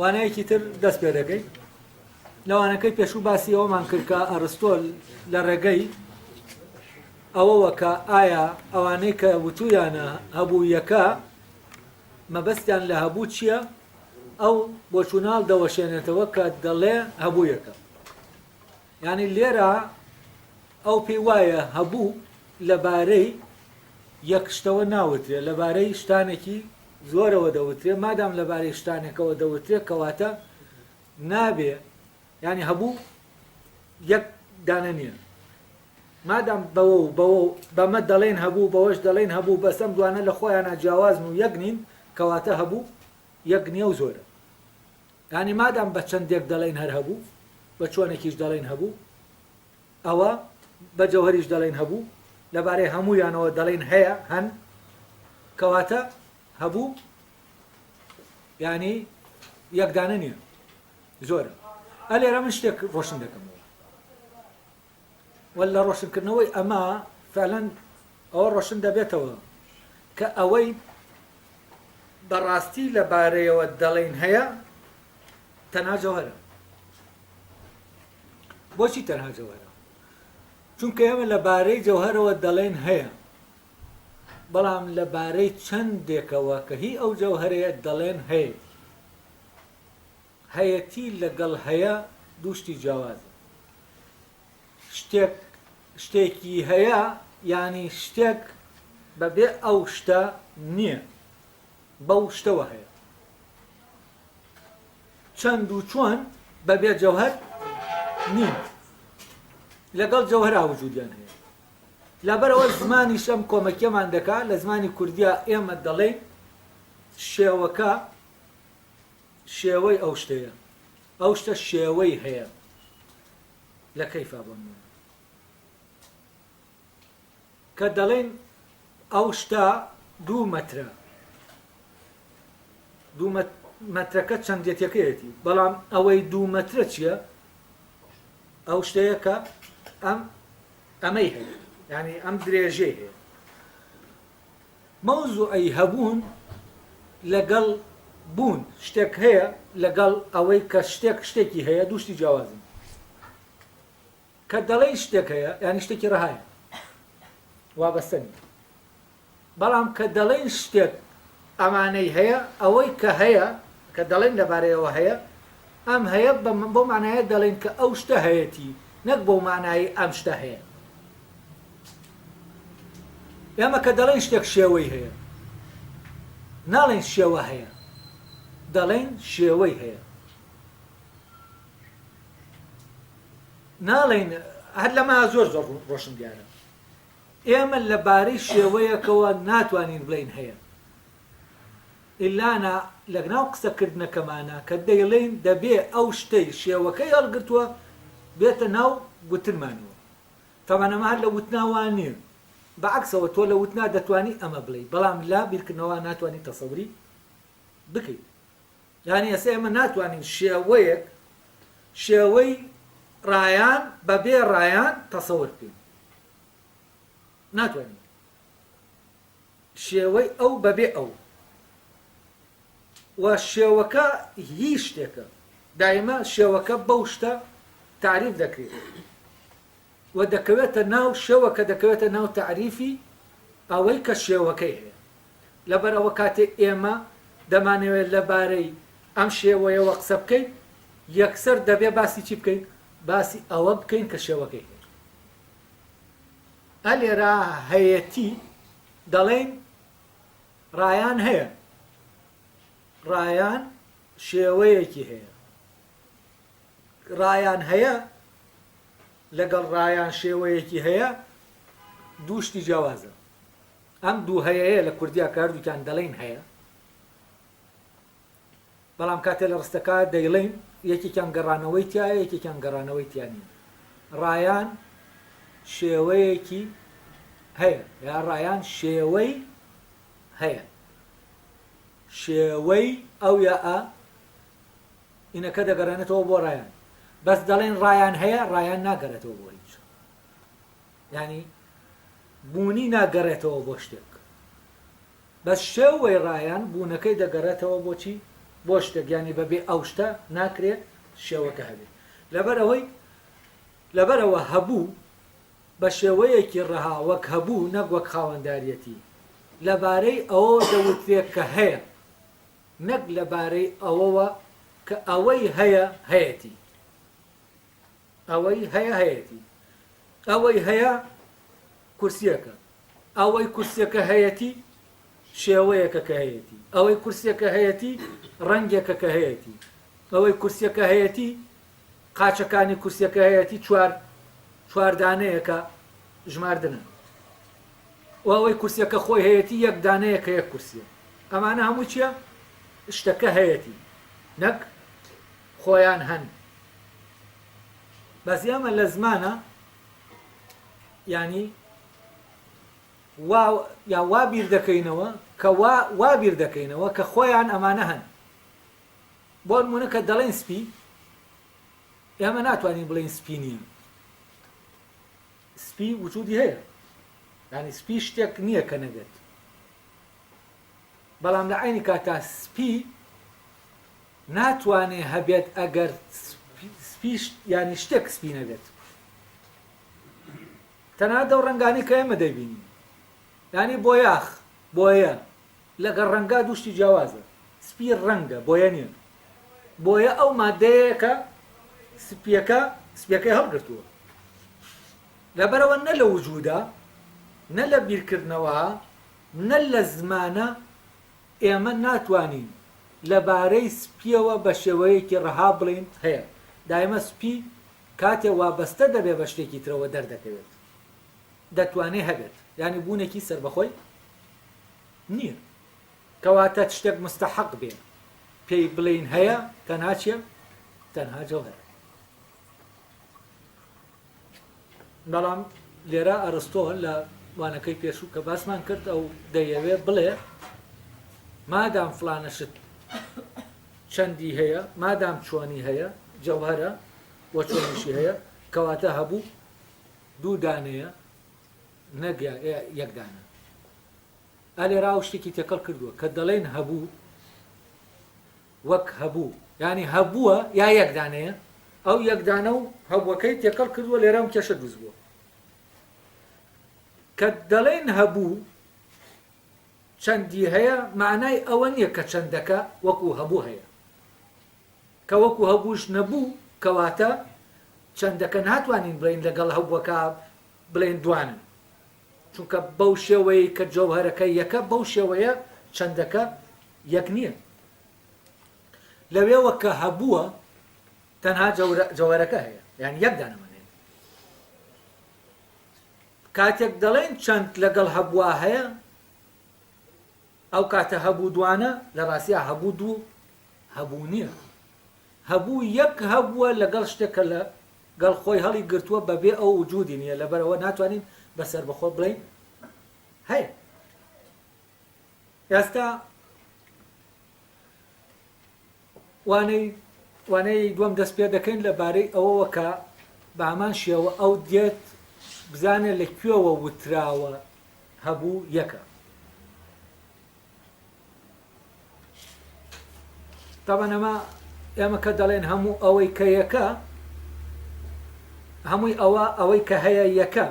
وانەیەکی تر دەست پێ دەکەیت لەوانەکەی پێشوو باسی ئەومان کرد کە ئەرستۆل لە ڕێگەی ئەوەوە کە ئایا ئەوانەی کە وتویانە هەبوو یەکە مەبەستیان لە هەبوو چییە ئەو بۆچوونەال دەوەشێنێتەوە کە دەڵێ هەبوویەکە. یانی لێرە ئەو پێی وایە هەبوو لەبارەی یەک شتەوە ناوترێ لەبارەی شتانێکی زۆرەوە دەوترێ مادام لەبارەی شتانێکەوە دەوترێ کەواتە نابێ ینی هەبوو یەک دانە نییە مادام بەوە و بەوە و بەمە دەڵێن هەبوو، بەوەش دەڵێن هەبوو، بەس ئەم دوانە لە خۆیانا جیاوازن و یەک نین، کەواتە هەبوو یەک نییە و زۆرە. یانی مادام بە چەندێک دەڵێن هەر هەبوو، بە چۆنێکیش دەڵێن هەبوو، ئەوە بە جەوهەریش دەڵێن هەبوو، لەبارەی هەموویانەوە دەڵێن هەیە، هەن، کەواتە هەبوو یانی یەک دانە نییە، زۆرە. ئەلێرە من شتێک ڕۆشن دەکەمەوە. واللە ڕۆشنکردنەوەی ئەمە فعلا ئەوە ڕۆشن دەبێتەوە کە ئەوەی بەڕاستی لە بارەیەوە دەڵێن هەیە تەنها جەوهرە بۆچی تەنها جەوهرە چونکە ئێمە لە بارەی جەوهرەوە دەڵێن هەیە بەڵام لە بارەی چەندێکەوە کە هی ئەو جەوهرەیە دەڵێن هەیەتی هەیەتی لەگەڵ هەیە دوو شتی جیاوازن. شتێک شتێکی هەیە یانی شتێک بەبێ ئەو شتە نییە، بەو شتەوە هەیە. چەند و چۆن بەبێ جەوهەر نین. لەگەڵ جەوهرا وجودیان هەیە. لەبەرەوە زمانیش ئەم کۆمەکیەمان دەکا لە زمانی کوردیا ئێمە دەڵێین شێوەکە شێوەی ئەو شتەیە ئەو شتە شێوەی هەیە لە کەیفا بۆ نمونە کە دەڵێن ئەو شتە دوو مەترە دوو مەترەکە چەندێتەکەیەتی بەڵام ئەوەی دوو مەترە چییە ئەو شتەیە کە ئەم ئەمەی هەیە ینی ئەم درێژەی هەیە مەوزوعی هەبوون لەگەڵ بوون شتێک هەیە لەگەڵ ئەوەی کە شتێک شتێکی هەیە دوو شتی جیاوازن کە دەڵێی شتێک هەیە یانی شتێکی ڕەهایە وابەستە نیە بەڵام کە دەڵێن شتێک ئەمانەی هەیە ئەوەی کە هەیە کە دەڵێن لەبارەیەوە هەیە ئەم هەیە بۆ مانایە دەڵێن کە ئەو شتە هەیەتی نەک بۆ مانایی ئەم شتە هەیە ئێمە کە دەڵێین شتێک شێوەی هەیە، ناڵێین شێوە هەیە، دەڵێین شێوەی هەیە. ناڵێین هەر لەمە زۆر زۆر ڕۆشن دیارە. ئێمە لەبارەی شێوەیەکەوە ناتوانین بڵین هەیە. ئللانا لەگناو قسەکردنەکەمانە کە دەیڵین دەبێ ئەو شتەی شێوەکەی هەڵگرتووە بێتە ناو گوتنمانەوە. تابان ئەمە هەر لە وتنا وا نیە، بە عەکسەوە تۆ لە وتنا دەتوانی ئەمە بڵێی بەڵام لە بیرکردنەوە ناتوانی تەسەوری بکەی. یانی ئێستا ئێمە ناتوانین شێوەیەک شێوەی ڕایان بە بێ ڕایان تەسەور بکەین. ناتوانین. شێوەی ئەو بەبێ ئەو و شێوەکە هی شتێکە، دایمە شێوەکە بەو شتە تەعریف دەکرێت و دەکەوێتە ناو شێوەکە دەکەوێتە ناو تەعریفی ئەوەی کە شێوەکەی هەیە. لەبەر ئەوە کاتێ ئێمە دەمانەوێت لە بارەی ئەم شێوەیەوە قسە بکەین یەکسەر دەبێ باسی چی بکەین؟ باسی ئەوە بکەین کە شێوەکەی هەیە. ئە لێرا هەیەتی دەڵێین ڕایان هەیە ڕایان شێوەیەکی هەیە ڕایان هەیە لەگەڵ ڕایان شێوەیەکی هەیە دوو شتی جیاوازە ئەم دوو هەیەیە لە کوردیا کاردووکیان دەڵێن هەیە بەڵام کاتێ لە ڕستەکە دەیڵێین یەکێکیان گەڕانەوەی تیایە یەکێکیان گەڕانەوەی تیا نییە ڕایان شێوەیەکی هەیە یا ڕایان شێوەی هەیە شێوەی ئەو یا ئە ئینەکە دەگەڕێنێتەوە بۆ ڕایان بەس دەڵێن ڕایان هەیە ڕایان ناگەرێتەوە بۆ هیچ ینی بوونی ناگەڕێتەوە بۆ شتێک بە شێو وەی ڕایان بوونەکەی دەگەڕێتەوە بۆ چی؟ بۆ شتێک یانی بە بێ ئەو شتە ناکرێ شێوەکە هەبێ لەبەر ئەوەی لەبەر ئەوە هەبوو بە شێوەیەکی ڕەها وەک هەبوو نەک وەک خاوەنداریەتی لە بارەی ئەوە دەوترێت کە هەیە نەک لە بارەی ئەوەوە کە ئەوەی هەیە هەیەتی ئەوەی هەیە هەیەتی ئەوەی هەیە کورسیەکە ئەوەی کورسیەکە هەیەتی شێوەیەکە کە هەیەتی ئەوەی کورسیەکە هەیەتی ڕەنگێکە کە هەیەتی ئەوەی کورسیەکە هەیەتی قاچەکانی کورسیەکە هەیەتی چوار چواردانەیەکە ژماردنە و ئەوەی کورسیەکە خۆی هەیەتی یەک دانەیە کە یەک کورسیە ئەمانە هەموو چییە شتەکە هەیەتی نەک خۆیان هەن بەزیامە لە زمانە یانی وا یا وا بیر دەکەینەوە کە وا وا بیر دەکەینەوە کە خۆیان ئەمانە هەن بۆ نمونە کە دەڵێن سپی ئێمە ناتوانین بڵێن سپی نییە سپی وجودی هەیە ینی سپی شتێک نییە کە نەبێت بەڵام لە عینی کاتا سپی ناتوانێ هەبێت ئەگەر سپیش ینی شتێک سپی نەبێت تەنانەت ئەو ڕەنگانەی کە ئێمە دەیبینین. یانی بۆیاخ، بۆیە، لەگەڵ ڕەنگا دوو شتی جیاوازە. سپی ڕەنگە، بۆیە نییە. بۆیە ئەو ماددەیە کە سپییەکە، سپییەکەی هەڵگرتووە. لەبەرئەوە نە لە وجوودە، نە لە بیرکردنەوەە، نە لە زمانە، ئێمە ناتوانین لەبارەی سپییەوە بە شێوەیەکی ڕەها بڵێین هەیە. دایمە سپی کاتێ وابەستە دەبێ بە شتێکی ترەوە دەردەکەوێت دەتوانێ هەبێت یانی بوونێکی سەربەخۆی نییە کەواتە شتێک مستحق بێ پێی بڵین هەیە تەنها چیە تەنها جەوهر بەڵام لێرە ئەرستۆ لە وانەکەی پێشوو کە باسمان کرد ئەو دەیەوێ بڵێ مادام فلانە شت چەندی هەیە مادام چۆنی هەیە جەوهەرە و چۆنیشی هەیە کەواتە هەبوو دوو دانەیە نەک یەک دانە ئەلێ راو شتێکی تێکەڵ کردووە کە دەڵێن هەبوو وەک هەبوو ینی هەبووە یا یەک دانەیە ئەو یەکدانە و هەبووەکەی تێکەڵ کردووە لێرەم کێشە دروست بووە کە دەڵێن هەبوو چەندی هەیە مانای ئەوە نیە کە چەندەکە وەکو هەبوو هەیە کە وەکو هەبووش نەبوو کەواتە چەندەکە ناتوانین بڵێین لەگەڵ هەبووەکە بڵێین دوانن چونکە بەو شێوەیە کە جەوهەرەکە یەکە بەو شێوەیە چەندەکە یەک نییە لەوێوە کە هەبووە تەنها جەوەرەکە هەیە یان یەک دانەمە کاتێک دەڵێین چەند لەگەڵ هەبووە هەیە، ئەو کاتە هەبوو دوانە، لە ڕاستیا هەبوو دوو هەبوو نییە. هەبوو یەک هەبووە لەگەڵ شتێک کە لە گەڵ خۆی هەڵی گرتووە بە بێ ئەو وجوودی نییە، لەبەر ئەوە ناتوانین بە سەربەخۆ بڵێین هەیە. ئێستا وانەی وانەی دووەم دەست پێ دەکەین لە بارەی ئەوەوە کە بە هەمان شێوە ئەو دێت بزانێ لە کوێوە وتراوە هەبوو یەکە طبعا ئەمە ئێمە کە دەڵێن هەموو ئەوەی کە یەکە هەمووی ئەوە ئەوەی کە هەیە یەکە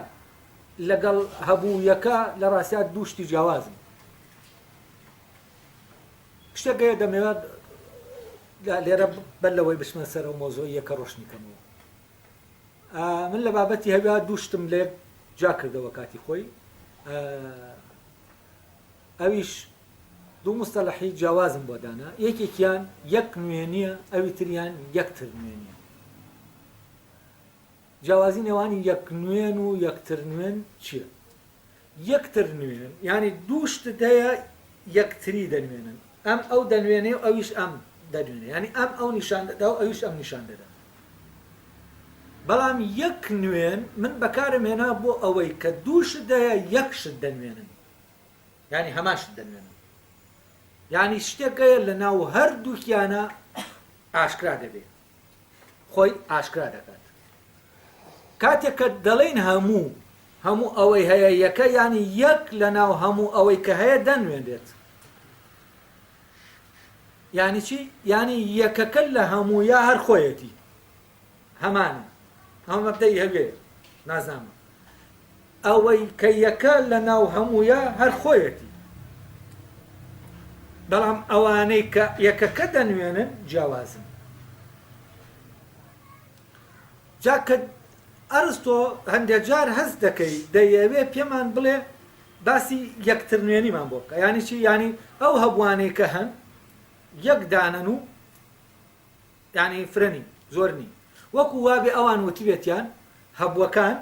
لەگەڵ هەبوو یەکە لە ڕاستات دوو شتی جیاوازن شتێک هەیە دەمەوێت لێرە بەر لەوەی بچمە سەر و مۆزۆی یەکە ڕۆشنی کەمەوە من لە بابەتی هەویا دووشتم لێ جا کردەوە کاتی خۆی ئەویش دوو مستەلحی جیاوازم بۆ دانا یەکێکیان یەک نوێنیە ئەوی تریان یەکتر نوێنیە جیاوازی نێوان یەک نوێن و یەکتر نوێن چیە؟ یەکتر نوێن یانی دوو شتت هەیە یەکتری دەنوێنن، ئەم ئەو دەنوێنێ و ئەویش ئەم دەنوێنێ یانی ئەم ئەو نیشان دەدا و ئەویش ئەم نیشان دەدا. بەڵام یەک نوێن من بەکارم هێنا بۆ ئەوەی کە دوو شت هەیە یەک شت دەنوێنن یانی هەمان شت دەنوێنن یانی شتێک هەیە لەناو هەردووکیانا ئاشکرا دەبێ. خۆی ئاشکرا دەکات کاتێک کە دەڵین هەموو هەموو ئەوەی هەیە یەکە ینی یەک لە ناو هەموو ئەوەی کە هەیە دەنوێنێت ینی چی ینی یەکەکە لە هەموو یا هەر خۆیەتی هەمانە هەمەبدەی هەوێ نازنامە ئەوەی کە یەکە لە ناو هەموویا هەر خۆیەتی، بەڵام ئەوانەی کە یەکەکە دەنوێنن جیاوازن. جا کە ئەرستۆ هەندێ جار هەست دەکەی دەیەوێ پێمان بڵێ باسی یەکترنوێنیمان بۆ بکە یانی چی؟ یانی ئەو هەبووانەی کە هەن یەک دانەن و یانی فرە نین، زۆر نین، وەکو وابێ ئەوان وتبێتیان هەبووەکان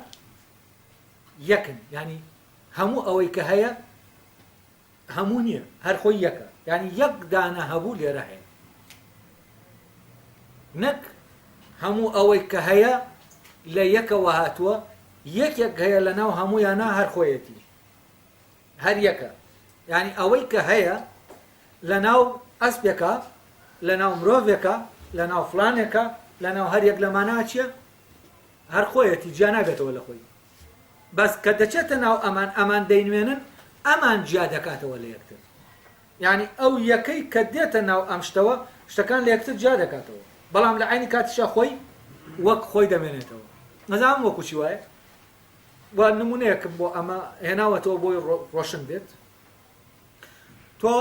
یەکن یانی هەموو ئەوەی کە هەیە هەموو نییە هەر خۆی یەکە یانی یەک دانە هەبوو لێرە هەیە نەک هەموو ئەوەی کە هەیە لە یەکەوە هاتووە یەکێک هەیە لە ناو هەموویانە هەر خۆیەتی هەر یەکە یعنی ئەوەی کە هەیە لە ناو ئەسپێکە لە ناو مرۆڤێکە لە ناو فلانێکە لە ناو هەر یەک لەمانە چیە هەر خۆیەتی جیا نابێتەوە لە خۆی بەس کە دەچێتە ناو ئەمان ئەمان دەینوێنن ئەمان جیا دەکاتەوە لە یەکتر یعنی ئەو یەکەی کە دێتە ناو ئەم شتەوە شتەکان لە یەکتر جیا دەکاتەوە بەڵام لە عینی کاتیشا خۆی وەک خۆی دەمێنێتەوە نەزانم وەکو چی وایە و نمونەیەکم بۆ ئەمە هێناوەتەوە بۆی ڕۆشن بێت تۆ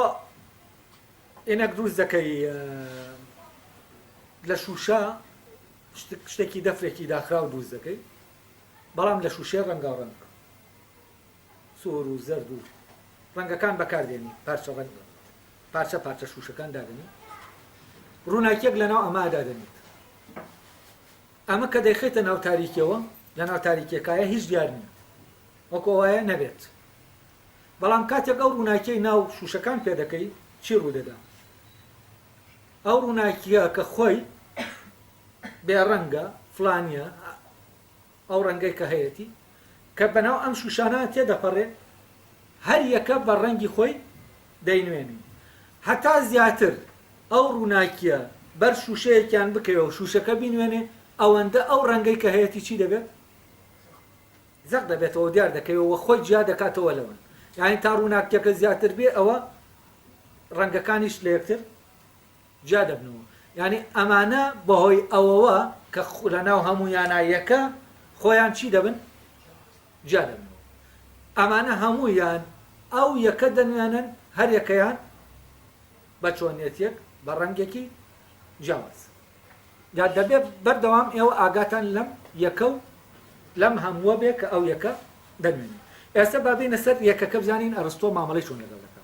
ئێنەک دروست دەکەی لە شوشە شتێکی دەفرێکی داخراو دروست دەکەی بەڵام لە شوشەی ڕەنگاوڕەنگ سور و زەرد و ڕەنگەکان بەکاردێنی پارچە ڕەنگ پارچە پارچە شوشەکان دادنی ڕووناکیەک لەناو ئەمە دادنیت ئەمە کە دەیخیتە ناو تاریکەوە لە ناو تاریکەکایە هیچ دیار نییە وەکۆ وایە نەبێت بەڵام کاتێک ئەو ڕووناکیی ناو شوشەکان پێ دەکەی چی ڕوودەدا ئەو ڕووناکییە کە خۆی بێڕەنگە، فلانییە، ئەو ڕەنگەی کە هەیەتی، کە بەناو ئەم شووشانە تێدەپەڕێ، هەر یەکە بە ڕەنگی خۆی دەینوێنی. هەتا زیاتر ئەو ڕووناکییە بەر شووشەیەکیان بکەوێ و شووشەکە بینوێنێ، ئەوەندە ئەو ڕەنگەی کە هەیەتی چی دەبێت؟ زەق دەبێتەوەو دیار دەکەوێت وە خۆی جیا دەکاتەوە لەوان یانی تا ڕووناکیەکە زیاتر بێ ئەوە ڕەنگەکانیش لە یەکتر جیا دەبنەوە یانی ئەمانە بەهۆی ئەوەوە کە لە ناو هەموو یانایەکە خۆیان چی دەبن جیا دەبنەوە ئەمانە هەموویان ئەو یەکە دەنوێنن هەر یەکەیان بە چۆنیەتێک بە ڕەنگێکی جیاواز دا دەبێ بەردەوام ئێوە ئاگاتان لەم یەکە و لەم هەمووە بێ کە ئەو یەکە دەنوێنێ. ئێستا با بێینە سەر یەکەکە بزانین ئەرستۆ مامەڵەی چۆن لەگەڵ دەکا.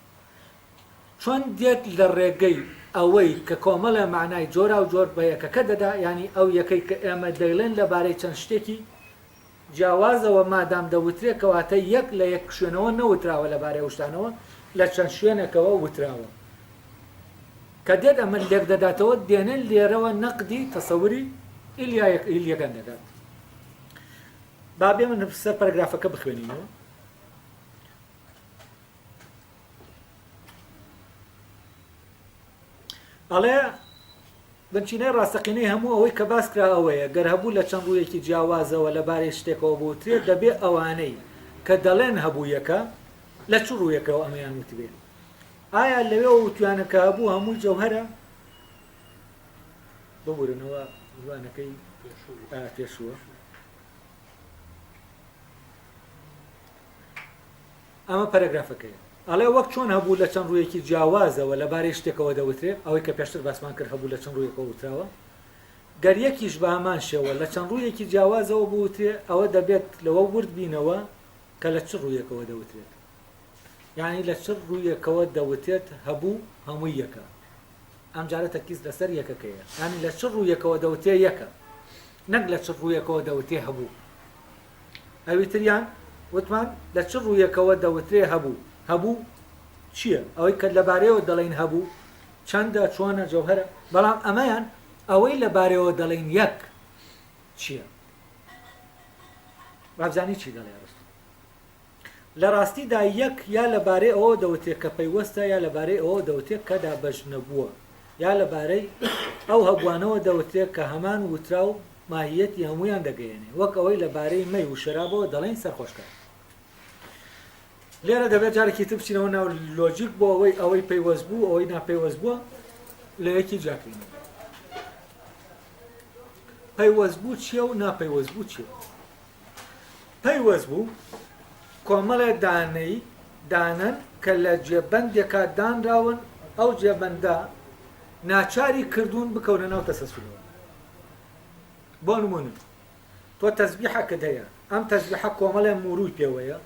چۆن دێت لە ڕێگەی ئەوەی کە کۆمەڵێ مانای جۆراوجۆر بە یەکەکە دەدا یانی ئەو یەکەی کە ئێمە دەیڵێن لەبارەی چەند شتێکی جیاوازەوە مادام دەوترێ کەواتە یەک لە یەک شوێنەوە نەوتراوە لەبارەی ئەو شتانەوە لە چەند شوێنێکەوە وتراوە کە دێت ئەمە لێکدەداتەوە دێنێ لێرەوە نەقدی تەسەوری ئیلیایەک ئیلیەکان دەکات با بێ من سەر پەرگرافەکە بخوێنینەوە ئەڵێ، بنچینەی ڕاستەقینەی هەموو ئەوەی کە باس کرا ئەوەیە، گەر هەبوو لە چەند ڕوویەکی جیاوازەوە لەبارەی شتێکەوە بوترێت، دەبێ ئەوانەی کە دەڵێن هەبوویەکە، لە چ ڕوویەکەوە ئەمەیان وتبێ؟ ئایا لەوێوە وتویانە کە هەبوو هەمووی جەوهەرە؟ ببورنەوە وانەکەی پێشووە. ئەمە پەرەگرافەکەیە. ئەڵێ، وەک چۆن هەبوو لە چەند ڕوویەکی جیاوازەوە لەبارەی شتێکەوە دەوترێ، ئەوەی کە پێشتر باسمان کرد هەبوو لە چەند ڕوویەکەوە وتراوە، گەر یەکیش بە هەمان شێوە لە چەند ڕوویەکی جیاوازەوە بوترێ، ئەوە دەبێت لەوە ورد بینەوە کە لە چ ڕوویەکەوە دەوترێت. یانی لە چ ڕوویەکەوە دەوتێت هەبوو هەمووی یەکە. ئەمجارە تەرکیز لەسەر یەکەکەیە. یانی لە چ ڕوویەکەوە دەوتێ یەکە. نەک لە چ ڕوویەکەوە دەوتێ هەبوو. ئەویتریان وتمان لە چ ڕوویەکەوە دەوترێ هەبوو؟ هەبوو چییە؟ ئەوەی کە لە بارەیەوە دەڵێین هەبوو چەندە، چۆنە، جەوهەرە؟ بەڵام ئەمەیان ئەوەی لە بارەیەوە دەڵێین یەک چییە؟ وابزانی چی دەڵێ ئەرستۆ؟ لە ڕاستیدا یەک یا لە بارەی ئەوەوە دەوتێ کە پەیوەستە یا لە بارەی ئەوەوە دەوتێ کە دابەش نەبووە یا لە بارەی ئەو هەبووانەوە دەوتێ کە هەمان وتراو ماهییەتی هەموویان دەگەیەنێ وەک ئەوەی لە بارەی مەی و شەرابەوە دەڵێین سەرخۆشکەر. لێرە دەبێت جارێکی تر بچینەوە ناو لۆجیک بۆ ئەوەی ئەوەی پەیوەست بوو ئەوەی ناپەیوەست بووە لە یەکی جیاکرین پەیوەست بوو چییە و ناپەیوەست بوو چییە پەیوەست بوو، کۆمەڵێ دانەی دانەن کە لە جێبەندێکا دانراون، ئەو جێبەندە ناچاری کردوون بکەونە ناو تەسەسولەوە. بۆ نموونە تۆ تەزبیحەکت هەیە، ئەم تەزبیحە کۆمەڵێ موورووی پێوەیە،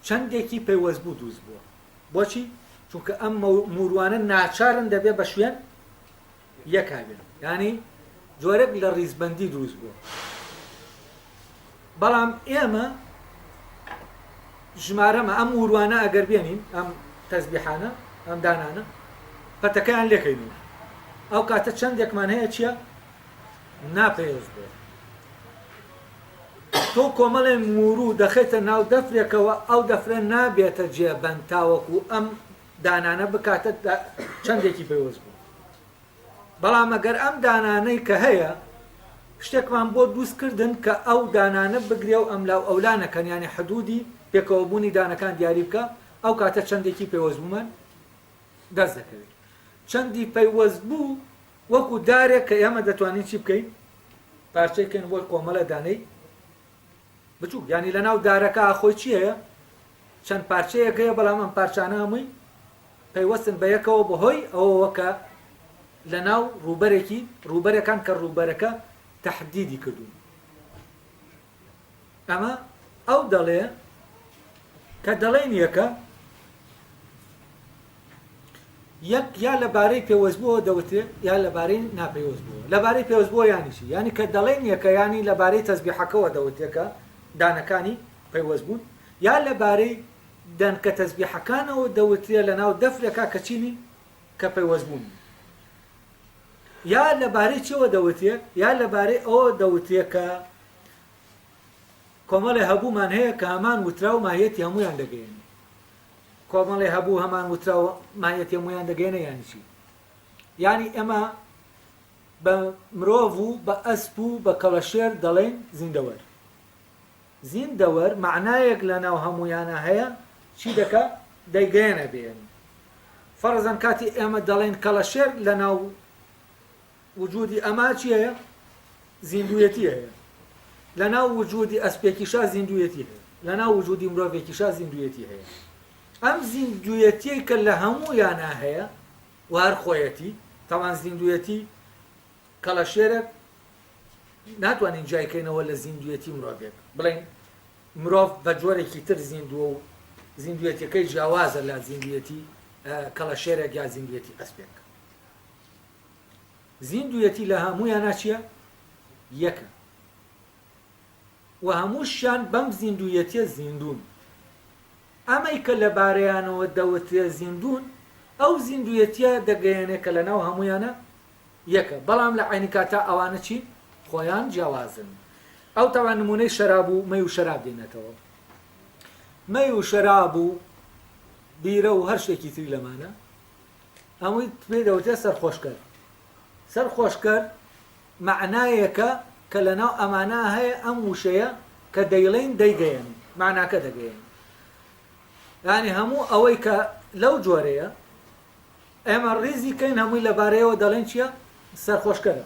چەندێکی پەیوەست بوو دروست بووە. بۆچی؟ چونکە ئەم موورووانە ناچارن دەبێ بە شوێن یەکا بێت یانی جۆرێک لە ڕیزبەندی دروست بووە بەڵام ئێمە ژمارەمە ئەم وروانە ئەگەر بێنین ئەم تەزبیحانە ئەم دانانە پەتەکەیان لێکەینەوە ئەو کاتە چەندێکمان هەیە چییە ناپەیەز بێت تۆ کۆمەڵێ مورو دەخێتە ناو دەفرێکەوە ئەو دەفرە نابێتە جێبەند تاوەکو ئەم دانانە بکاتە چەندێکی پەیوەست بوو، بەڵام ئەگەر ئەم دانانەی کە هەیە شتێکمان بۆ دووست کردن کە ئەو دانانە بگرێ و ئەملا و ئەولا نەکەن یانی حدوودی پێکەوە بوونی دانەکان دیاری بکا ئەو کاتە چەندێکی پەیوەست بوومان دەست دەکەوێت چەندی پەیوەست بوو وەکو دارێک کە ئێمە دەتوانین چی بکەین پارچەی کەین بۆی قۆمەڵە دانەی بچوک یانی لە ناو دارەکە خۆی چی هەیە چەند پارچەیەک هەیە بەڵام ئەم پارچانە هەمووی پەیوەستن بە یەکەوە بەهۆی ئەوەوە کە لە ناو ڕووبەرێکی ڕووبەرەکان کە ڕووبەرەکە تهدیدی کردوون ئەمە ئەو دەڵێ کە دەڵێن یەکە یەک یا لە بارەی پێوەستبووەوە دەوترێت یا لە بارەی ناپەیوەستبووەوە. لە بارەی پێوەستبووەوە یانی چی؟ یانی کە دەڵێین یەکە یانی لە بارەی تەسبیحەکەوە دەوترێت کە دانەکانی پەیوەست بوون یا لە بارەی دەنکە تەسبیحەکانەوە دەوترێت لە ناو دەفرێکا کە چی نین کە پەیوەستبوو نین. یا لە بارەی چیەوە دەوترێت یا لە بارەی ئەوە دەوترێت کە کۆمەڵێ هەبوومان هەیە کە هەمان وترا و ماهیەتی هەموویان دەگەیەنێت. کۆمەڵی هەبوو هەمان وتراو مان یە تێمویان دەگەێنە یانی چی یانی ئێمە بە مرۆڤ و بە ئەسپ و بە کەڵەشێر دەڵێن زیندەوەر زیندەوەر معنایەک لە ناو هەمویانە هەیە چی دەکە دەیگەێنە بێن فەرزەن کاتی ئێمە دەڵێن کەڵەشێر لە ناو وجودی ئەما چی هەیە؟ زیندوویەتی هەیە. لەناو وجودی ئەسپێکیشا زیندوویەتی هەیە. لەناو وجودی مرۆڤێکیشا زیندوویەتی هەیە. ئەم زیندوویەتی کە لە هەموو یانا هەیە و هەر خۆیەتی تاوان زیندوویەتی کەڵەشێرەک ناتوانین جیایکەینەوە لە زیندویەتی مرۆڤێک بڵین مرۆڤ بە جۆرێکی تر زیندووە و زیندویەتەکەی جیاوازە لە زیندویەتی کەڵەشێرێک یا زیندویەتی ئەسپێک زیندویەتی لە هەمویانا چیە؟ یەکە. وە هەموشیان بەم زیندویەتیە زیندون. ئەمەی کە لە بارەیانەوە دەوترێ زیندون ئەو زیندویەتیە دەگەیەنێ کە لە ناو هەمویانا یەکە بەڵام لە عەینی کاتا ئەوانە چین؟ خۆیان جیاوازن. ئەو تەوان نمونەی شەراب و مەی و شەراب دێنێتەوە. مەی و شەراب و بیرە و هەر شتێکی تری لەمانە ئەمویت پێی دەوترێت سەرخۆشکەر سەرخۆشکەر مەعنایەکە کە لەناو ئەمانە هەیە ئەم وشەیە کە دەیڵین دەیگەیەن معناکە دەگەیەن ینی هەموو ئەوەی کە لەو جۆرەیە ئێمە ڕیزی کەین هەمووی لەبارەیەوە دەڵێن چییە سەرخۆشکەرە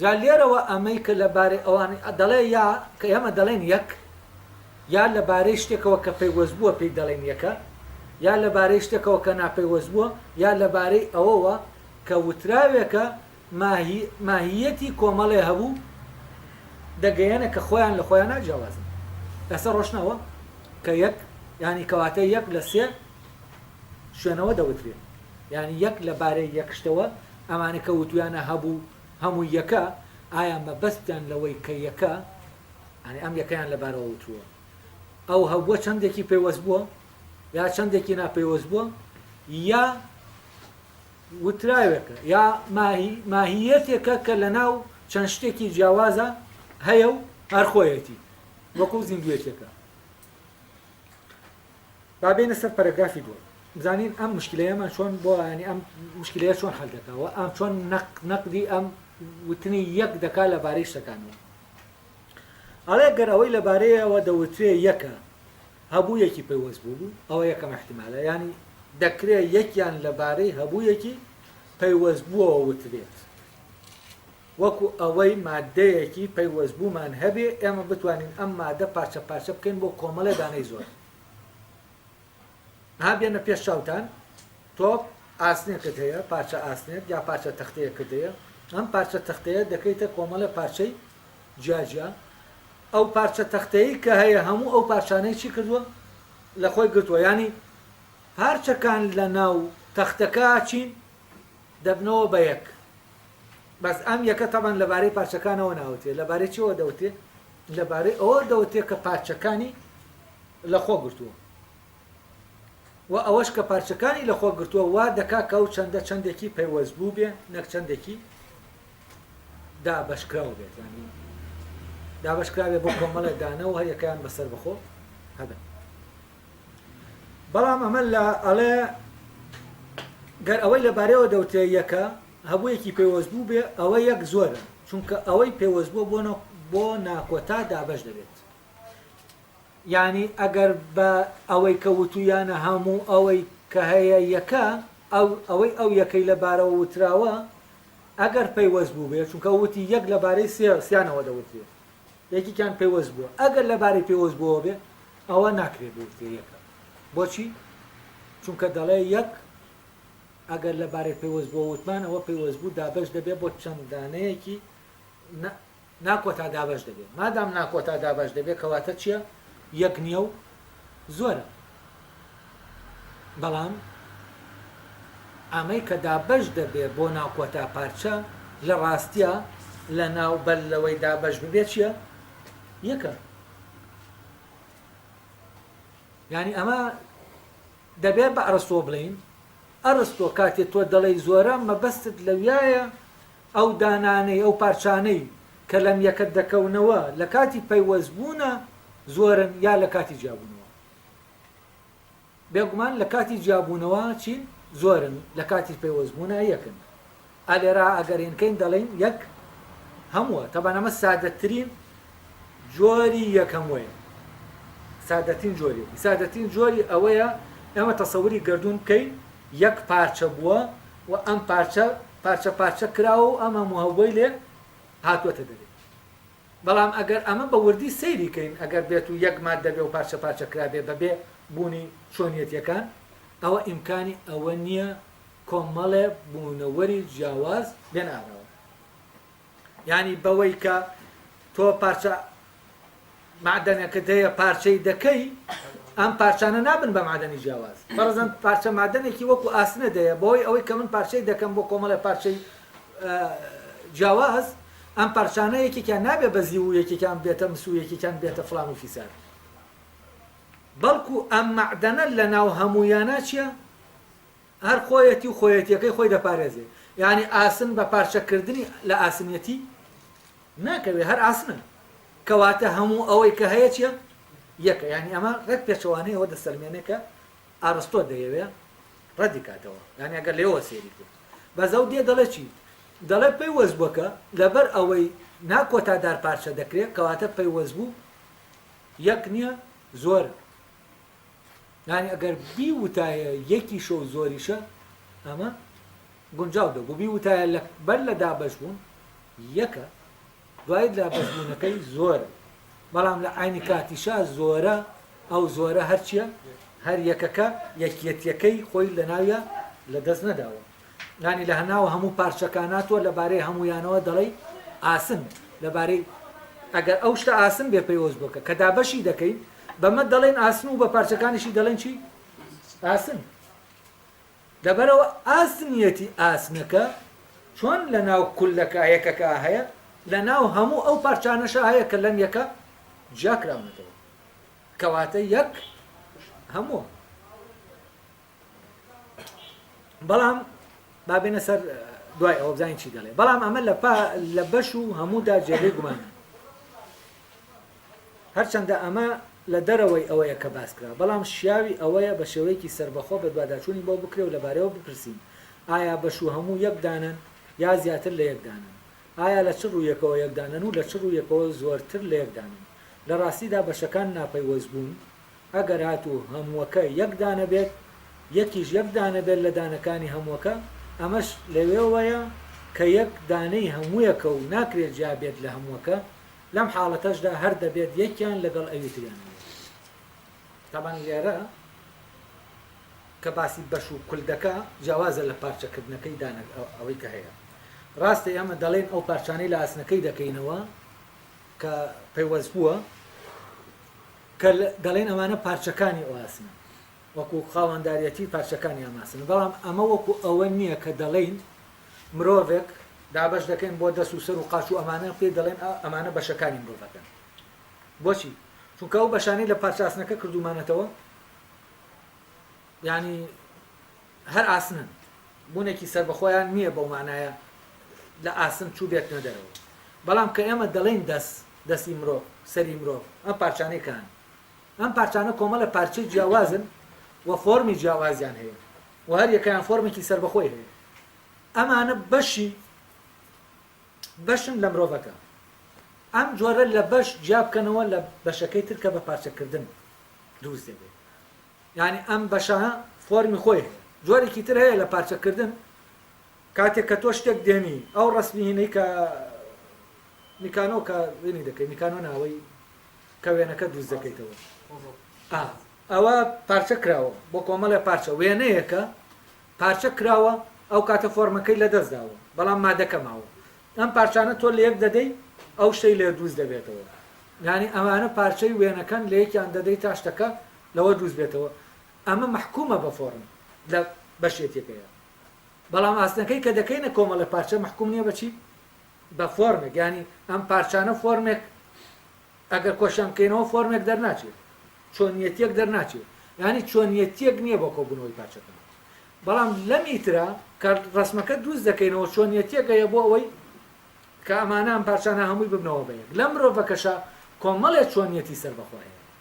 جا لێرەوە ئەمەی کە لە بارەی ئەوان دەڵێ یا کە ئێمە دەڵێین یەک یا لە بارەی شتێکەوە کە پەیوەست بووە پێی دەڵێن یەکە یا لە بارەی شتێکەوە کە ناپەیوەست بووە یا لە بارەی ئەوەوە کە وتراوێکە ماهیەتی کۆمەڵێ هەبوو دەگەیەنە کە خۆیان لە خۆیان ناجیاوازن لەسەر ڕۆشنەوە کە یەک ینی کەواتە یەک لە سێ شوێنەوە دەوترێ یانی یەک لە بارەی یەک شتەوە ئەمانە کە وتویانە هەبوو هەمووی یەکە ئایا مەبەستیان لەوەی کە یەکە ئەنی ئەم یەکەیان لە بارەوە وتووە ئەو هەبووە چەندێکی پەیوەست بووە یا چەندێکی ناپەیوەست بووە یا وتراوێکە یا ماهیەتێکە کە لە ناو چەند شتێکی جیاوازە هەیە و هەرخۆیەتی وەکو زیندوێتێکە با بێینە سەر پەرەگرافی دووەم بزانین ئەم مشکلەیەمان چۆن بۆ ینی ئەم مشکلەیە چۆن حل دەکا و ئەم چۆن نەق نەقدی ئەم وتنی یەک دەکا لەبارەی شتەکانەوە ئەڵێ گەر ئەوەی لەبارەیەوە دەوترێ یەکە هەبوویەکی پەیوەست بوو بوو ئەوە یەکەم احتیمالە ینی دەکرێت یەکیان لەبارەی هەبوویەکی پەیوەست بووەوە وترێت وەکو ئەوەی ماددەیەکی پەیوەستبوومان هەبێ ئێمە بتوانین ئەم ماددە پارچە پارچە بکەین بۆ کۆمەڵێ دانەی زۆر. ئەها بێنە پێش چاوتان تۆپ ئاسنێکت هەیە پارچە ئاسنێک یا پارچە تەختەیەکت هەیە ئەم پارچە تەختەیە دەکەیتە کۆمەڵێ پارچەی جیاجیا ئەو پارچە تەختەیە کە هەیە هەموو ئەو پارچانەی چی کردووە لە خۆی گرتووە ینی پارچەکان لە ناو تەختەکە چین دەبنەوە بە یەک بەس ئەم یەکە تەبەن لەبارەی پارچەکانەوە ناوترێ لەبارەی چیەوە دەوترێ لەبارەی ئەوە دەوترێ کە پارچەکانی لەخۆ گرتووە و ئەوەش کە پارچەکانی لەخۆ گرتووە وا دەکا کە ئەو چەندە چەندێکی پەیوەست بوو بێ نەک چەندێکی دابەشکراو بێت ینی دابەشکراوێ بۆ کۆمەڵێ دانە و هەریەکەیان بەسەر بەخۆ هەبن بەڵام ئەمە لە ئەڵێ گەر ئەوەی لەبارەوە دەوتێ یەکە هەبوویەکی پەیوەست بوو بێ ئەوە یەک زۆرن چونکە ئەوەی پەیوەست بووە بۆ نە بۆ ناکۆتا دابەش دەبێت یانی ئەگەر بە ئەوەی کە وتویانە هەموو ئەوەی کە هەیە یەکە ئەو ئەوەی ئەو یەکەی لە بارەوە وتراوە ئەگەر پەیوەست بوو بێ چونکە وتی یەک لە بارەی سێ سیانەوە دەوترێ یەکیان پەیوەست بووە ئەگەر لە بارەی پێوەست بووە بێ ئەوە ناکرێ بوترێ یەکە بۆچی چونکە دەڵێ یەک ئەگەر لە بارەی پەیوەستبووە وتمان ئەوە پەیوەستبوو دابەش دەبێت بۆ چەند دانەیەکی ناکۆتا دابەش دەبێت مادام ناکۆتا دابەش دەبێت کەواتە چییە یەک نییە و زۆرە بەڵام ئەمەی کە دابەش دەبێت بۆ ناکۆتا پارچە لە ڕاستە لە ناو بەر لەوەی دابەش ببێت چییە یەکە ینی ئەمە دەبێ بە ئەرستۆ بڵێین، ئەرستۆ کاتێ تۆ دەڵێی زۆرە مەبەستت لەویایە ئەو دانانەی، ئەو پارچانەی کە لەم یەکە دەکەونەوە لە کاتی پەیوەست بوونە زۆرن یا لە کاتی جیابوونەوە؟ بێگومان لە کاتی جیابوونەوە چین؟ زۆرن، لە کاتی پەیوەست بوونە یەکن. ئا لێرە ئەگەر هێنکەین دەڵێین یەک هەمووە تەبان ئەمە سادەترین جۆری یەک هەمووەیە سادەترین جۆریەتی سادەترین جۆری ئەوەیە ئێمە تەسەوری گردون بکەین یەک پارچە بووە و ئەم پارچە پارچە پارچە کراوە و ئەم هەموو هەوبەی لێ هاتووەتە دەرێ بەڵام ئەگەر ئەمە بە وردی سەیری کەین ئەگەر بێت و یەک ماد دەبێ و پارچە پارچە کرابێ بەبێ بوونی چۆنیەتەکان ئەوە ئیمکانی ئەوە نییە کۆمەڵێ بوونەوەری جیاواز بێنە ئاراوە یانی بەوەی کە تۆ پارچە معدەنەکەت هەیە پارچەی دەکەی ئەم پارچانە نابن بە معدەنی جیاواز فەرزەن پارچە مادەنێکی وەکو ئاسنە دەیە بۆی ئەوەی کە من پارچەی دەکەم بۆ کۆمەڵێ پارچەی جیاواز ئەم پارچانە یەکێکیان نابێ بەزی و یەکێکیان بێتە مس و یەکێکیان بێتە فلان و فیسار بەڵکو ئەم معدەنە لە ناو هەموویانە چیە هەر خۆیەتی و خۆیەتیەکەی خۆی دەپارێزێ یانی ئاسن بە پارچە کردنی لە ئاسنیەتی ناکەوێ هەر ئاسنە کەواتە هەموو ئەوەی کە هەیە چیە یەکە یانی ئەمە ڕێک پێچەوانەی ئەوە دەسەلمێنێ کە ئارستۆ دەیەوێ ڕەدی کاتەوە یانی ئەگەر لێوە سێری کرد بەزەو دێ دەڵێ چی دەڵێ پەیوەست بووەکە لەبەر ئەوەی ناکۆتادار پارچە دەکرێت کەواتە پەیوەست بوو یەک نییە زۆرە یانی ئەگەر بیوتایە یەکیشە و زۆریشە ئەمە گونجاو دەبوو بیوتایە بەر لە دابەشبوون یەکە دوای دابەشبوونەکەی زۆر بەڵام لە ئاینی کاتیشا زۆرە ئەو زۆرە هەرچیە هەر یەکەکە یەکیەتیەکەی خۆی لە ناویە لە دەست نەداوە یانی لە هەناو هەموو پارچەکانا تۆ لە بارەی هەموویانەوە دەڵێی ئاسن لە بارەی ئەگەر ئەو شتە ئاسن بێ پەیوەست بکە کە دابەشی دەکەین بەمە دەڵێین ئاسن و بە پارچەکانیشی دەڵێن چی ئاسن لەبەرەوە ئاسنیەتی ئاسنەکە چۆن لە ناو کولەکە یەکەکە هەیە لە ناو هەموو ئەو پارچانەشە هەیە کە لەم یەکە جیاکراونەتەوە کەواتە یەک هەمووە بەڵام با بێنە سەر دوای ئەوە بزانین چی دەڵێ بەڵام ئەمە لە لە بەش و هەموودا جێگەی گومان هەرچەندە ئەمە لە دەرەوەی ئەوەیە کە باس کرا بەڵام شیاوی ئەوەیە بە شێوەیەکی سربەخۆ بە دوواداچوونی بۆ بکرێ و لەبارەوە بپرسین ئایا بەش و هەموو یەکدانن یا زیاتر لە یەکدانن ئایا لە چ ڕوویەکەوە یەکدانن و لە چ ڕوویەکەوە زۆرتر لە یەکدانن لە ڕاستیدا بەشەکان ناپەیوەست بوون ئەگەر هاتوو هەمووەکە یەک دانە بێت، یەکیش یەک دانە بێت لە دانەکانی هەمووەکە، ئەمەش لەوێوەیە کە یەک دانەی هەموویەکە و ناکرێت جیا بێت لە هەمووەکە، لەم حاڵەتەشدا هەر دەبێت یەکیان لەگەڵ ئەوی تریانەوە بێت. تابان لێرە کە باسی بەش و کل دەکا جیاوازە لە پارچە کردنەکەی دانەک ئەوەی کە هەیە ڕاستە ئێمە دەڵێین ئەو پارچانەی لە ئاسنەکەی دەکەینەوە کە پەیوەست بووە، کە دەڵێن ئەمانە پارچەکانی ئۆاسمن، وەکو خاوەنداریەتی پارچەکانی ئاماسمن، بەڵام ئەمە وەکو ئەوە نیە کە دەڵێین مرۆڤێک، دابەش دەکەین بۆ دەست و سەر و قاچ و ئەمانە، پێی دەڵێن ئەمانە بەشەکانی مرۆڤەکەن، بۆچی؟ چونکە ئەو بەشانەی لە پارچە ئاسنەکە کردومانەتەوە، یانی هەر ئاسنن، بوونێکی سەربەخۆیان نییە بەو مانایە لە ئاسن چووبێتنە دەرەوە. بەڵام کە ئێمە دەڵێین دەس، دەسی مرۆڤ، سەری مرۆڤ، ئەم پارچانەی کانن؟ ئەم پارچانە کۆمەڵە پارچەی جیاوازن و فۆرمی جیاوازیان هەیە و هەر یەکەیان فۆرمێکی سەربەخۆی هەیە. ئەمانە بەشی بەشن لە مرۆڤەکە. ئەم جۆرە لە بەش جیابکەنەوە لە بەشەکەی تر کە بە پارچەکردن دروست دەبێت. یانی ئەم بەشە فۆرمی خۆی هەیە جۆرێکی تر هەیە لە پارچە کردن کاتێک کە تۆ شتێک دێنی ئەو ڕسمی هینەی کە میکانۆ کە وێنی دەکەی میکانۆ ناوەی کە وێنەکە دووست دەکەیتەوە ئەوە پارچە کراوە بۆ کۆمەڵێ پارچە وێنەیەکە پارچە کراوە ئەو کاتە فۆرمەکەی لە دەست داوە بەڵام مادەکە ماوە ئەم پارچانە تۆ لە یەک دەدەی ئەو شتەی لێ دووست دەبێتەوە یانی ئەمانە پارچەی وێنەکەن لە یەکیان دەدەی تاشتەکە لەوە دروست بێتەوە ئەمە مەحکومە بە فۆڕم لە بەشێتیەکەیە بەڵام ئاستنەکەی کە دەکەینە کۆمەڵە پارچە مەحکوم نیە بەچی بە فۆرمێک ینی ئەم پارچانە فۆرمێک ئەگەر کۆشان بکەینەوە فۆرمێک دەرناچێت چۆنیەتیەک دەرناچێت ینی چۆنیەتیەک نییە بۆ کۆبوونەوەی پارچەکان بەڵام لەم ئیترا کە ڕسمەکە دروست دەکەینەوە چۆنیەتیەکەیە بۆ ئەوەی کە ئەمانە ئەم پارچانە هەمووی ببنەوە بەیەک لە مرۆڤەکەشە کۆمەڵێ چۆنیەتی سەربەخۆهەیە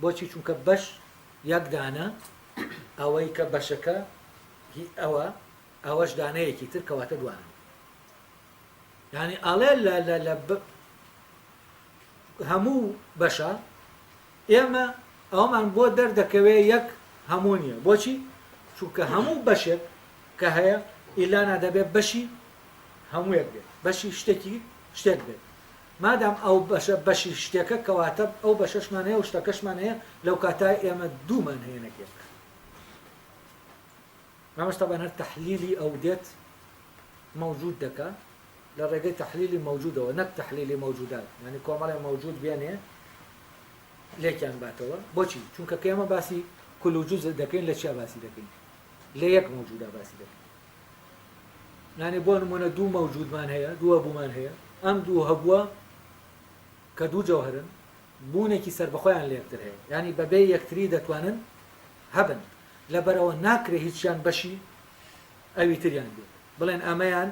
بۆچی چونکە بەش یەک دانە ئەوەی کە بەشەکە هی ئەوە ئەوەش دانەیەکی تر کەواتە دوانە یعنی ئەڵێ لە لە لە هەموو بەشە ئێمە ئەومان بۆ دەردەکەوێ یەک هەموو نیە بۆچی چونکە هەموو بەشێک کە هەیە ئیلانا دەبێت بەشی هەموویەک بێت بەشی شتێکی شتێک بێت مادام ئەو بەشە بەشی شتێکە کەواتە ئەو بەشەشمان هەیە و شتەکەشمان هەیە لەوکاتە ئێمە دوومان هەیە نەک یەک. ئەمەش تەبان هەر تەحلیلی ئەو دێت مەوجود دەکا لە ڕێگەی تەحلیلی مەوجودەوە نەک تەحلیلی مەوجودات یعنی کۆمەڵێ مەوجود بێنێ لێکیان باتەوە بۆچی چونکە کێمە باسی کلوجوز دەکەین لە چیا باسی دەکەین لە یەک مەوجودا باسی دەکەین یانی بۆ نمونە دوو مەوجودمان هەیە دوو هەبوومان هەیە ئەم دوو هەبووە کە دوو جەوهرن بوونێکی سربەخۆیان لە یەکتر هەیە ینی بەبێ یەکتری دەتوانن هەبن لەبەرەوە ناکرێ هیچیان بەشی ئەوی تریان بێت بڵێن ئەمەیان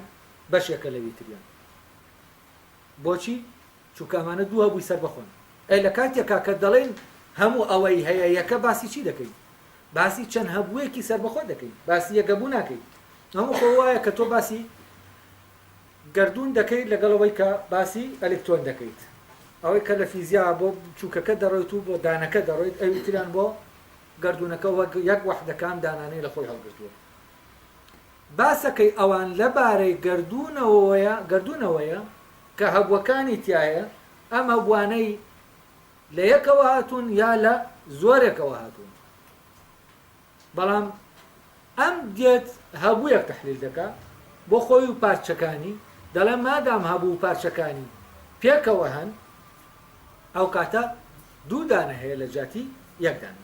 بەشێکە لەوی تریان بۆچی چونکە ئەمانە دوو هەبووی سەربەخۆن. ئەی لە کاتێکا کە دەڵێین هەموو ئەوەی هەیە یەکە باسی چی دەکەین؟ باسی چەند هەبوویەکی سەربەخۆ دەکەین، باسی یەک هەبوو ناکەین. ئەمە خۆ وایە کە تۆ باسی گەردوون دەکەیت لەگەڵ ئەوەی کە باسی ئەلکترۆن دەکەیت. ئەوەی کە لە فیزیا بۆ بچووکەکە دەڕۆیت و بۆ دانەکە دەڕۆیت، ئەوی تریان بۆ گەردوونەکە وەک یەک وەحدەکان دانانەی لە خۆی هەڵگرتووە. باسەکەی ئەوان لە بارەی گەردوونەوەوەیە، گەردوونەوەیە کە هەبووەکانی تیایە، ئەم هەبووانەی لە یەکەوە هاتوون یا لە زۆرێکەوە هاتوون. بەڵام ئەم دێت هەبوویەک تەحلیل دەکا بۆ خۆی و پارچەکانی، دەڵێ مادام هەبوو و پارچەکانی پێکەوە هەن، ئەو کاتە دوو دانە هەیە لە جیاتی یەک دانە.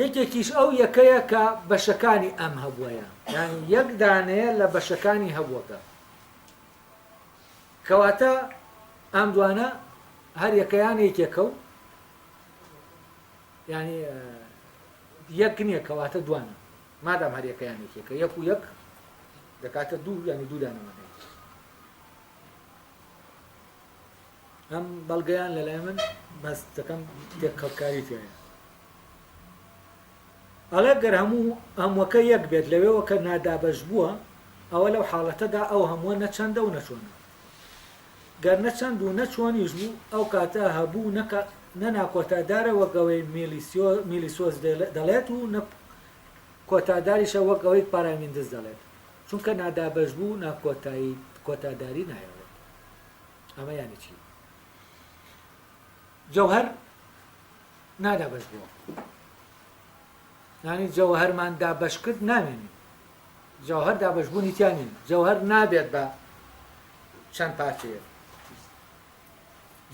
یەکێکیش ئەو یەکەیە کە بەشەکانی ئەم هەبووەیە، یانی یەک دانەیە لە بەشەکانی هەبووەکە. کەواتە ئەم دوانە هەر یەکەیان یەکێکە و یانی یەک نییە کەواتە دوانە مادام هەر یەکەیان یەکێکە یەک و یەک دەکاتە دوو یانی دوو دانەوە ئەم بەڵگەیان لەلای من بەس دەکەم تێکەڵکاری تێیە ئەڵێ گەر هەموو هەمووەکە یەک بێت لەوێوە کە نادابەشبووە ئەوە لەو حاڵەتەدا ئەو هەمووە نە چەندە و نە چۆنە گەر نە چەند و نە چۆنیش بوو ئەو کاتە هەبوو نە نە ناکۆتادارە وەک ئەوەی میلیسۆس دەڵێت و نە کۆتاداریشە وەک ئەوەی پارامیندس دەڵێت چونکە نادابەشبوو ناکۆتایی کۆتاداری نایەڵێت ئەمە یانی چی جەوهەر نادا بەش بۆ نانی جەوهەرمان دابەش کرد نامێنی جەوهەر دابەشبوونی تیانین جەوهەر نابێت بە چەند پارچەیە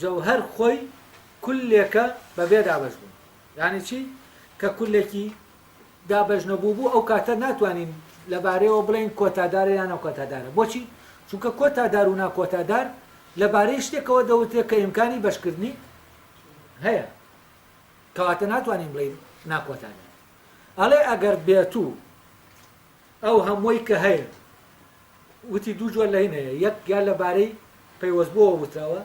جەوهەر خۆی کلێکە بە بێ دابەش بوون یانی چی کە کلێکی دابەش نەبوو بوو ئەو کاتە ناتوانین لەبارەیەوە بڵێن کۆتادارە یان ئەو کۆتادارە بۆچی چونکە کۆتادار و ناکۆتادار لەبارەی شتێکەوە دەوتێت کە ئیمکانی بەشکردنی هەیە کەواتە ناتوانین بڵین ناکۆتانە ئەڵێ ئەگەر بێت و ئەو هەمووی کە هەیە وتی دوو جۆر لە هینەیە یەک یا لەبارەی پەیوەست بۆ وتەوە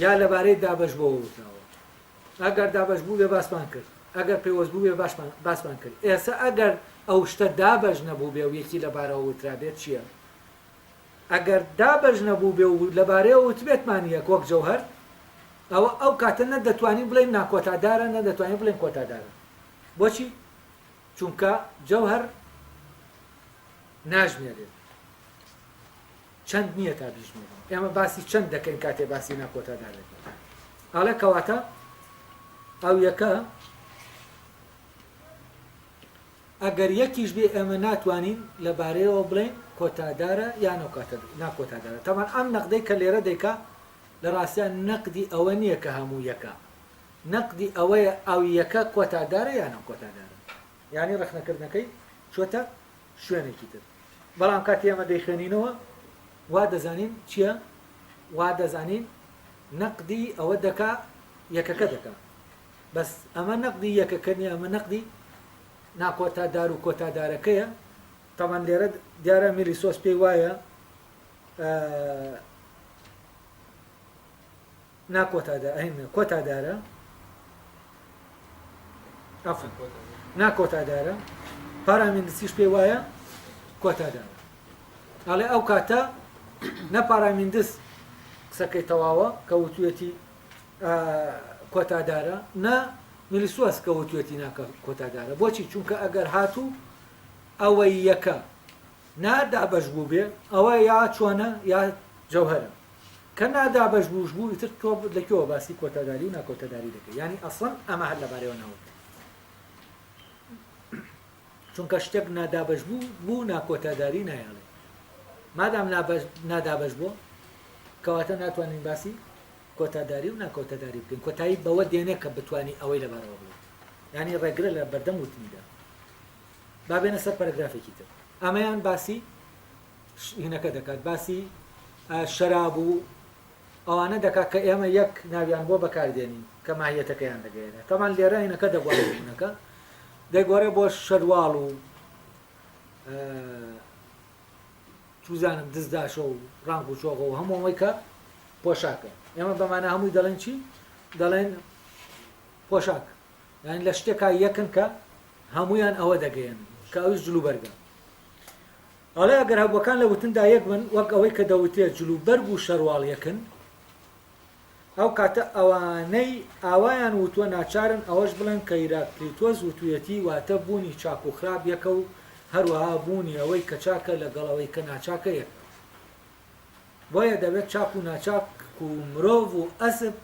یا لەبارەی دابش بۆ وتەوە ئەگەر دابش بوو بێ باسمان کرد ئەگەر پێوەست بوو بێ باشمان باسمان کرد ئێستا ئەگەر ئەو شتە دابش نەبوو بێ و یەکی لەبارەوە وترا بێت چییە ئەگەر دابەش نەبووبێ و لەبارەیەوە وتبێتمان یەک وەک جەوهەر، ئەوە ئەو کاتە نە دەتوانین بڵێین ناکۆتادارە نە دەتوانین بڵێین کۆتادارە. بۆچی؟ چونکە جەوهەر ناژمێرێت. چەند نییە تا بیژمێرین. ئێمە باسی چەند دەکەین کاتێ باسی ناکۆتادار دەکەین. ئەڵێ کەواتە ئەو یەکە ئەگەر یەکیش بێ ئێمە ناتوانین لە بارەیەوە بڵێین کۆتادارە یان ئەوکاتە ناکۆتادارە تەبعەن ئەم نەقدەی کە لێرە دەیکا لە ڕاستیا نەقدی ئەوە نییە کە هەموو یەکە نەقدی ئەوەیە ئەو یەکە کۆتادارە یان ئەو کۆتادارە یانی ڕەخنەکردنەکەی چۆتە شوێنێکی تر بەڵام کاتی ئەمە دەیخوێنینەوە وا دەزانین چییە وا دەزانین نەقدی ئەوە دەکا یەکەکە دەکا بەس ئەمە نەقدی یەکەکە نیە ئەمە نەقدی ناکۆتا دار و کۆتا دارەکەیە تەبەن لێرە دیارە میلی سۆس پێی وایە ناکۆتادا ئەین کۆتا دارە ئەفن ناکۆتا دارە پارامیندسیش پێی وایە کۆتا دارە ئەڵێ ئەو کاتە نە پارامیندس قسەکەی تەواوە کە وتوێتی کۆتا دارە نا نوریسواس کەوتوێتی ناکە کۆتا دارە بۆچی چونکە ئەگەر هاتوو ئەوەی یەکە نادابش بوو بێ ئەوە یا چۆنە یا جەوهرە کە نادابش بووش بوو ئیتر تۆ لەکەوە باسی کۆتاداری و ناکۆتەداری دەکە ینی ئەسڵەن ئەمە هەر لەبارەوە ناوت چونکە شتێک نادابەشبوو بوو ناکۆتاداری نایەڵێ مادام نادابەشبووە کەواتە ناتوانین باسی کۆتاداری و ناکۆتەداری بکەین کۆتایی بەوە دێنێ کە بتانی ئەوەی لەبارەوە بڵێت ینی ڕێگرە لە بەردەم وتنیدا بابێنە سەر پەرگرافێکی تر ئەمەیان باسی هینەکە دەکات باسی شەراب و ئەوانە دەکات کە ئێمە یەک ناویان بۆ بەکاردێنین کە ماهیەتەکەیان دەگەیەنێت تەبان لێرە هینەکە دەگۆڕێ ژنەکە دەگۆڕێ بۆ شەرواڵ و چوزانم دزداشە و ڕانگ و چۆغە و هەمووەوەی کە پۆشاکە ئێمە بەمانە هەمووی دەڵێن چی دەڵێن پۆشاک یان لە شتێکا یەکن کە هەمویان ئەوە دەگەیەن کە ئەوش جلوبەرگە ئەڵێ ئەگەر هەبووەکان لە وتندا یەک بن، وەک ئەوەی کە دەوترێت جلوبەرگ و شەرواڵ یەکن، ئەو کاتە ئەوانەی ئاوایان وتووە ناچارن ئەوەش بڵێن کە هیراکلیتۆس وتوویەتی، واتە بوونی چاک و خراپ یەکە و هەروەها بوونی ئەوەی کە چاکە لەگەڵ ئەوەی کە ناچاکە یەکە. بۆیە دەبێت چاک و ناچاک و مرۆڤ و ئەسپ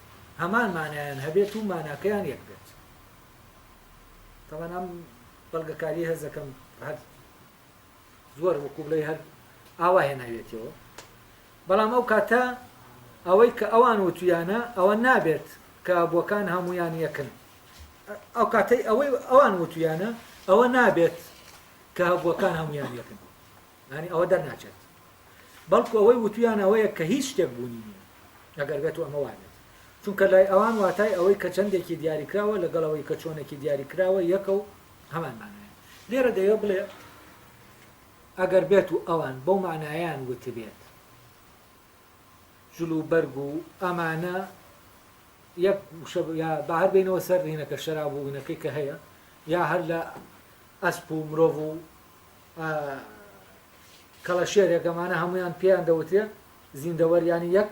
هەمان مانایان هەبێت و ماناکەیان یەک بێت. تەبەن ئەم بەڵگەکارییە هەست دەکەم هەر. زۆر وەکو بڵێ هەر ئاوا هێناویەتەوە بەڵام ئەو کاتە ئەوەی کە ئەوان وتویانە ئەوە نابێت کە بۆکان هەمویان یەکن ئەو کاتەی ئەوەی ئەوان وتویانە ئەوە نابێت کە هەبووەکان هەمویان یەکن ینی ئەوە دەرناچێت بەڵکو ئەوەی وتویان ئەوەیە کە هیچ شتێک بوونی نیە ئەگەر بێت و ئەمە وابێت چونکە لای ئەوان واتای ئەوەی کە چەندێکی دیاریکراوە لەگەڵەوەی کە چۆنێکی دیاریکراوە یەکە و هەمان مانایە. لێرە دەیەوێت بڵێ ئەگەر بێت و ئەوان بەو مانایەیان وتبێت جل و بەرگ و ئەمانە یەک وشە یا با هەر بینەوە سەر ڕینەکە شەراب و وینەکەی کە هەیە یا هەر لە ئەسپ و مرۆڤ و کەڵەشێرێکەمانە هەمویان پێیان دەوترێت زیندەوەریانی یەک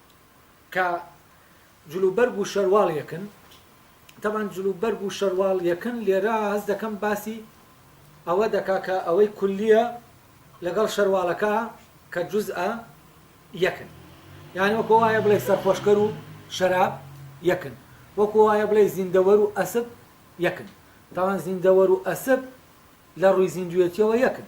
کە جل و بەرگ و شەرواڵ یەکن تەبعەن جل و بەرگ و شەرواڵ یەکن لێرە هەست دەکەم باسی ئەوە دەکا کە ئەوەی کولیە لەگەڵ شەرواڵەکە کە جزئە یەکن یعنی وەکو وایە بڵێ سەرخۆشکەر و شەراب یەکن وەکو وایە بڵێ زیندەوەر و ئەسب یەکن تاوان زیندەوەر و ئەسب لە ڕووی زیندوێتیەوە یەکن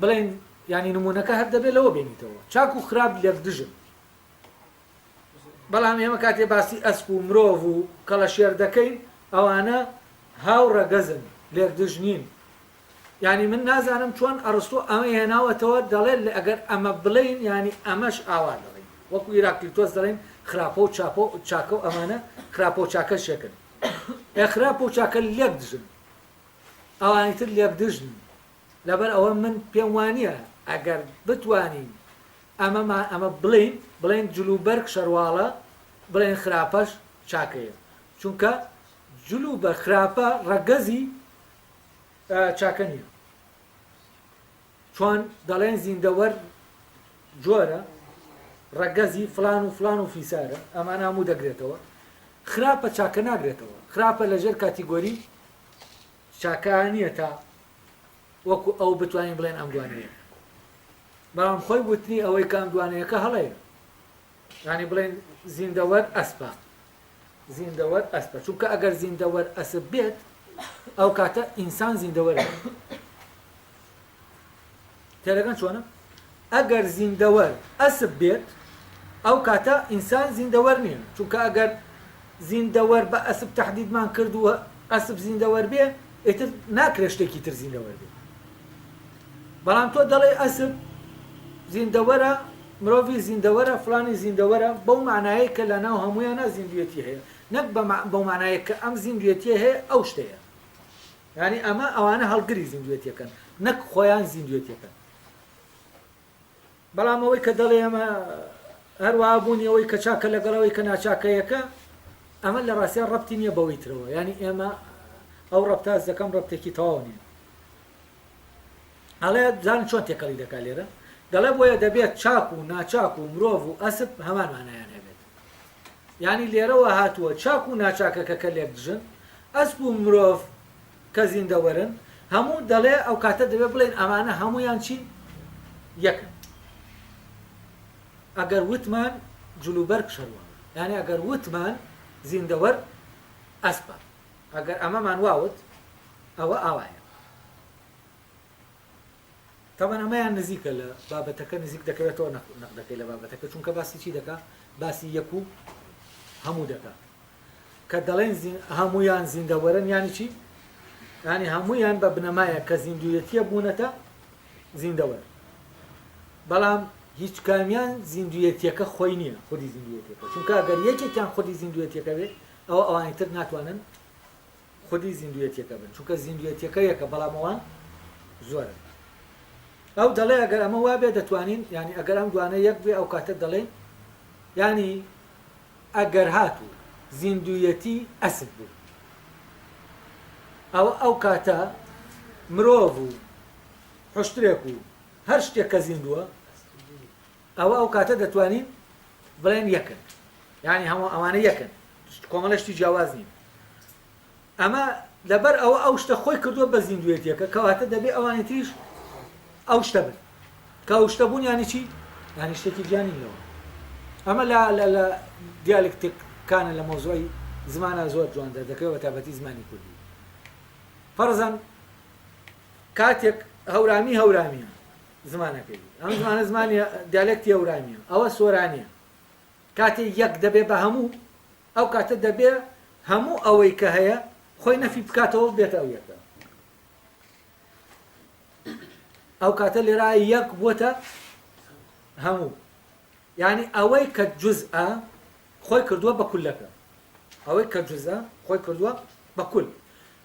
بڵێین یانی نمونونەکە هەر دەبێت لەوە بێنیتەوە چاک و خراپ لێکدژن بەڵام ئێمە کاتێ باسی ئەسپ و مرۆڤ و کەڵەشێر دەکەین ئەوانە هاو ڕەگەزن لێکدژ نین ینی من نازانم چۆن ئەڕستۆ ئەمە هێناوەتەوە دەڵێت لە ئەگەر ئەمە بڵین ینی ئەمەش ئاوا دەڵین وەکو ئیراکلیتۆس دەڵێن خراپە و چاپۆ چاکە و ئەمانە خراپۆ چاکە شێکن ئە خراپۆ چاکە لێک دژن ئەوانی تر لێکدژن لەبەر ئەوە من پێم وانییە ئەگەر بتوانین ئەمەمان ئەمە بڵێین بڵێین جل و بەرگ شەرواڵە بڵێن خراپەش چاکەیە چونکە جل و بە خراپە ڕەگەزی چاکە نییە چۆن دەڵێن زیندەوەر جۆرە ڕەگەزی فلان و فلان و فیسارە ئەمان هەموو دەگرێتەوە خراپە چاکە ناگرێتەوە خراپە لەژێر کاتیگۆری شاکارا نیە تا وەکو ئەو بتوانین بڵێن ئەم دوانەیە بەڵام خۆی وتنی ئەوەی کام دوانەیەکە هەڵەیە ینی بڵێن زیندەوەر ئەسپە زیندەوەر ئەسپە چونکە ئەگەر زیندەوەر ئەسب بێت ئەو کاتە ئینسان زیندەوەر تێدەگەن چۆنە؟ ئەگەر زیندەوەر ئەسپ بێت ئەو کاتە ئینسان زیندەوەر نییە، چونکە ئەگەر زیندەوەر بە ئەسپ تەحدیدمان کرد و ئەسپ زیندەوەر بێ ئیتر ناکرێ شتێکی تر زیندەوەر بێ. بەڵام تۆ دەڵێی ئەسپ زیندەوەرە مرۆڤی زیندەوەرە فلانی زیندەوەرە بەو مانایە کە لە ناو هەمویانە زیندوێتی هەیە نەک بەو مانایە کە ئەم زیندوێتیە هەیە ئەو شتەیە. یانی ئەمە ئەوانە هەڵگری زیندوێتیەکەن نەک خۆیان زیندوێتیەکەن بەڵام ئەوەی کە دەڵێ ئەمە هەروە بوونی ئەوەی کە چاکە لەگەڵەوەی کە ناچاکەیەکە ئەمە لە ڕاستیان ڕەتی نییە بەوەی ترەوە ینی ئێمە ئەو ڕەتاز دەکەم ڕەتێکی تەواو نیە ئەڵێ زان چۆن تێکەڵی دەکات لێرە دەڵێ بۆیە دەبێت چاک و ناچاک و مرۆڤ و ئەسب هەمان مانایان هەبێت یانی لێرەوە هاتووە چاک و ناچاکەکە کە لێک دژن، ئەسپ و مرۆڤ کە زیندەوەرن، هەموو دەڵێ ئەو کاتە دەبێ بڵێین ئەمانە هەموویان چین؟ یەکن. ئەگەر وتمان جلوبەرگ شەرواڵە، یانی ئەگەر وتمان زیندەوەر ئەسپە، ئەگەر ئەمەمان وا وت، ئەوە ئاوایە. تابان ئەمەیان نزیکە لە بابەتەکە نزیک دەکەوێتەوە نەک نەقدەکەی لە بابەتەکە چونکە باسی چی دەکا باسی یەک و هەموو دەکا کە دەڵێن هەمویان زیندەوەرن یانی چی ینی هەمویان بە بنەمایە کە زیندویەتیە بوونەتە زیندەوەر بەڵام هیچ کامیان زیندویەتیەکە خۆی نییە خودی زیندویەتەکە چونکە گەر یەکێکیان خودی زیندویەتەکە بێت ئەو ئەوانی تر ناتوانن خودی زیندووێتیەکە بن چونکە زیندووێتیەکە یەکە بەڵام ئەوان زۆرن ئەو دەڵێ ئەگەر ئەمە وابێ دەتوانین ینی ئەگەر ئەم دوانە یەک بێ ئەو کاتە دەڵێن ینی ئەگەر هاتوو زیندوویەتی ئەسب بوو ئەو ئەو کاتە مرۆڤ و حشتێک و هەر شتێک کە زیندووە ئەوە ئەو کاتە دەتوانین بڵێین یەکن یعنی هەموو ئەوانە یەکن کۆمەڵە شتی جیاواز نین ئەمە لەبەر ئەوە ئەو شتە خۆی کردووە بە زیندوێتیەکە کەواتە دەبێ ئەوانی تریش ئەو شتە بن کە ئەو شتە بوون یانی چی یانی شتێکی جیانی لەوە ئەمە لا لە لە دیالکتێککانە لە مۆزۆی زمانە زۆر جوان دەردەکەەوە تابەتی زمانی کوردی فەرزان کاتێک هەورامی هەورامیە زمانەکەی بوو. ئەم زمانە زمانی دیالێکتی ئەورانییە. ئەوە سۆرانییە. کاتێ یەک دەبێ بە هەموو، ئەو کاتە دەبێ هەموو ئەوەی کە هەیە خۆی نەفی بکاتەوە و بێتە ئەو یەکە. ئەو کاتە لێرا یەک بووتە هەموو. یعنی ئەوەی کە جزئە خۆی کردووە بە کولەکە. ئەوەی کە جزئە خۆی کردووە بە کول.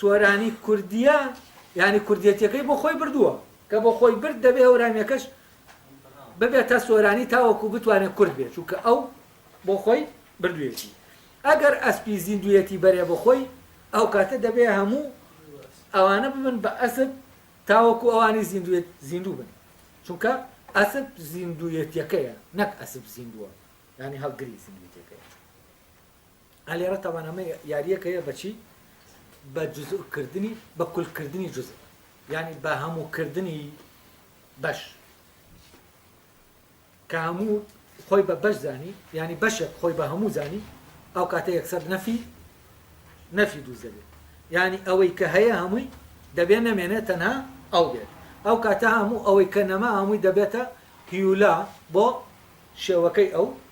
سۆرانی کوردیە یانی کوردیەتیەکەی بۆ خۆی بردووە کە بۆ خۆی برد دەبێ هەورامیەکەش ببێتە سۆرانی تاوەکو بتوانێت کورد بێت چونکە ئەو بۆ خۆی بردوویەتی ئەگەر ئەسپی زیندویەتی بەرێ بۆ خۆی ئەو کاتە دەبێ هەموو ئەوانە ببن بە ئەسب تاوەکو ئەوانی زیندوێت زیندوو بن چونکە ئەسب زیندویەتیەکەیە نەک ئەسب زیندووە ینی هەڵگری زیندویتەکەی ئەلێرە تاوان ئەمە یاریەک هەیە بەچی بە جزکردنی بە کولکردنی جز ینی بە هەمووکردنی بەش کە هەموو خۆی بە بەش زانی ینی بەشێک خۆی بە هەموو زانی ئەو کاتە یەکسەر نەفی نەفی دووز دەبێت ینی ئەوەی کە هەیە هەمووی دەبێت نەمێنێت تەنها ئەو بێت ئەو کاتە هەموو ئەوەی کە نەما هەمووی دەبێتە هیولا بۆ شێوەکەی ئەو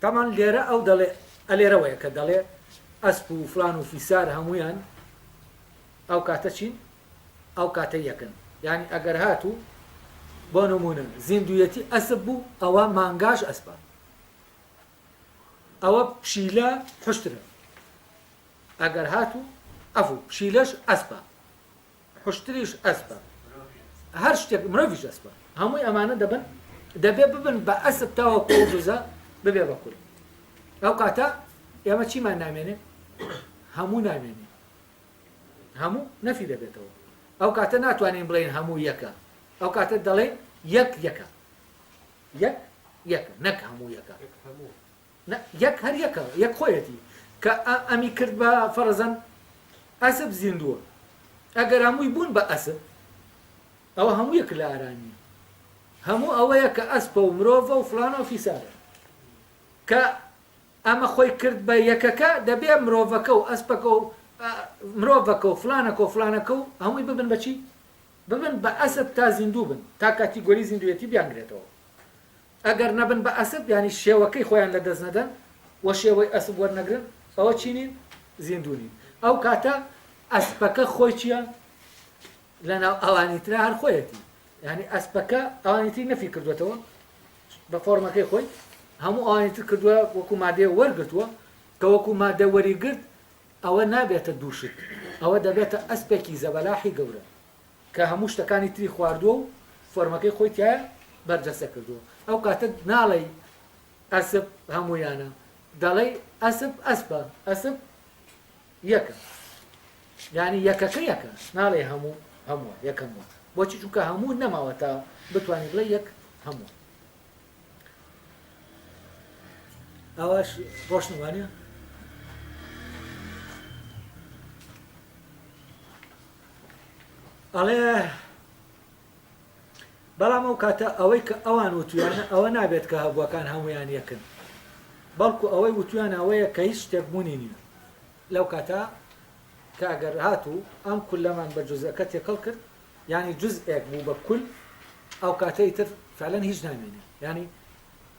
تابان لێرە ئەو دەڵێ ئەلێرەوەیە کە دەڵێ ئەسپ و فلان و فیسار هەموویان ئەو کاتە چین ئەو کاتە یەکن یانی ئەگەر هاتوو بۆ نمونە زیندویەتی ئەسپ بوو ئەوە مانگاش ئەسپە ئەوە پشیلە حشترە ئەگەر هاتوو ئەفو پشیلەش ئەسپە حوشتریش ئەسپە هەر شتێک مرۆڤیش ئەسپە هەمووی ئەمانە دەبن دەبێ ببن بە ئەسب تاوە پێجزە ببێ بە کورد ئەو کاتە ئێمە چیمان نامێنێ هەموو نامێنێ هەموو نەفی دەبێتەوە ئەو کاتە ناتوانین بڵێن هەموو یەکە ئەو کاتە دەڵێن یەک یەکە یەک یەکە نەک هەموو یەکە نە یەک هەر یەکە یەک خۆیەتی کە ئە ئەمی کرد بە فەرەزەن ئەسپ زیندووە ئەگەر هەمووی بوون بە ئەسپ ئەوە هەموو یەک لە ئارا نییە هەموو ئەوەیە کە ئەسپە و مرۆڤە و فلانە و فیسارە کە ئەمە خۆی کرد بە یەکەکە دەبێ مرۆڤەکە و ئەسپەکە و مرۆڤەکە و فلانەکە و فلانەکە و هەمووی ببن بەچی ببن بە ئەسپ تا زیندوو بن تا کاتیگۆری زیندوێتی بیانگرێتەوە ئەگەر نەبن بە ئەسپ یانی شێوەکەی خۆیان لە دەست نەدەن و شێوەی ئەسپ وەرنەگرن ئەوە چی نین؟ زیندوو نین. ئەو کاتە ئەسپەکە خۆی چیە لەناو ئەوانی ترا هەر خۆیەتی. یانی ئەسپەکە ئەوانی تری نەفی کردوێتەوە بە فۆرمەکەی خۆی هەموو ئەوانی تر کردووە وەکو مادەیە وەرگرتووە کە وەکو مادە وەریگرت ئەوە نابێتە دووشت ئەوە دەبێتە ئەسپێکی زەبەلاحی گەورە کە هەموو شتەکانی تری خواردووە و فۆرمەکەی خۆی تیایا بەرجەستە کردووە ئەو کاتە ناڵێی ئەسپ هەموویانە دەڵێی ئەسپ ئەسپە ئەسپ یەکە یعنی یەکەکە یەکە ناڵێ هەموو هەمووە یەکەموە بۆچی چونکە هەموو نەماوە تا بتانی بڵێ یەک هەموو ئاواش ڕۆشن وانە ئەڵێ بەڵام ئەو کاتە ئەوەی کە ئەوان وتویانە ئەوە نابێت کە هەبووەکان هەمویان یەکن بەڵکو ئەوەی وتویان ئەوەیە کە هیچ شتێکبوونی نییە لەو کاتە کە ئەگەر هاتوو ئەم کولەمان بە جزەکە تێکەڵ کرد یانی جزئێک بوو بە کول ئەوکاتە ئیتر فعلەن هیچ نامێنێ یانی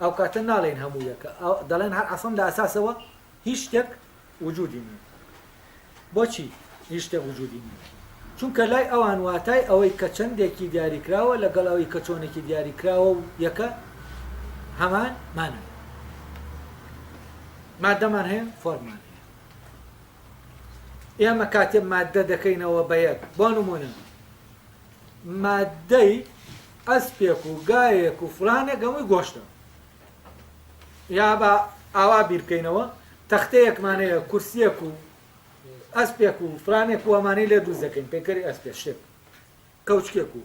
ئەوکاتە ناڵێن هەموو یەکە دەڵێن هەر عەسڵن لە ئەساسەوە هیچ شتێک وجودی نیە بۆچی هیچ شتێک وجودی نیە چونکە لای ئەوان واتای ئەوەی کە چەندێکی دیاریکراوە لەگەڵ ئەوەی کە چۆنێکی دیاریکراوە و یەکە هەمان مانە مادەمان هەیە فۆرمان هەیە ئێمە کاتێ ماددە دەکەینەوە بە یەک، بۆ نموونە ماددەی ئەسپێک و گاوێک و فلانێک هەمووی گۆشتە. یا با ئاوا بیر بکەینەوە، تەختەیەکمان هەیە، کورسییەک و ئەسپێک و فلانێک و ئەمانەی لێ دروست دەکەین، پەیکەری ئەسپێک شتێک، کەوچکێک و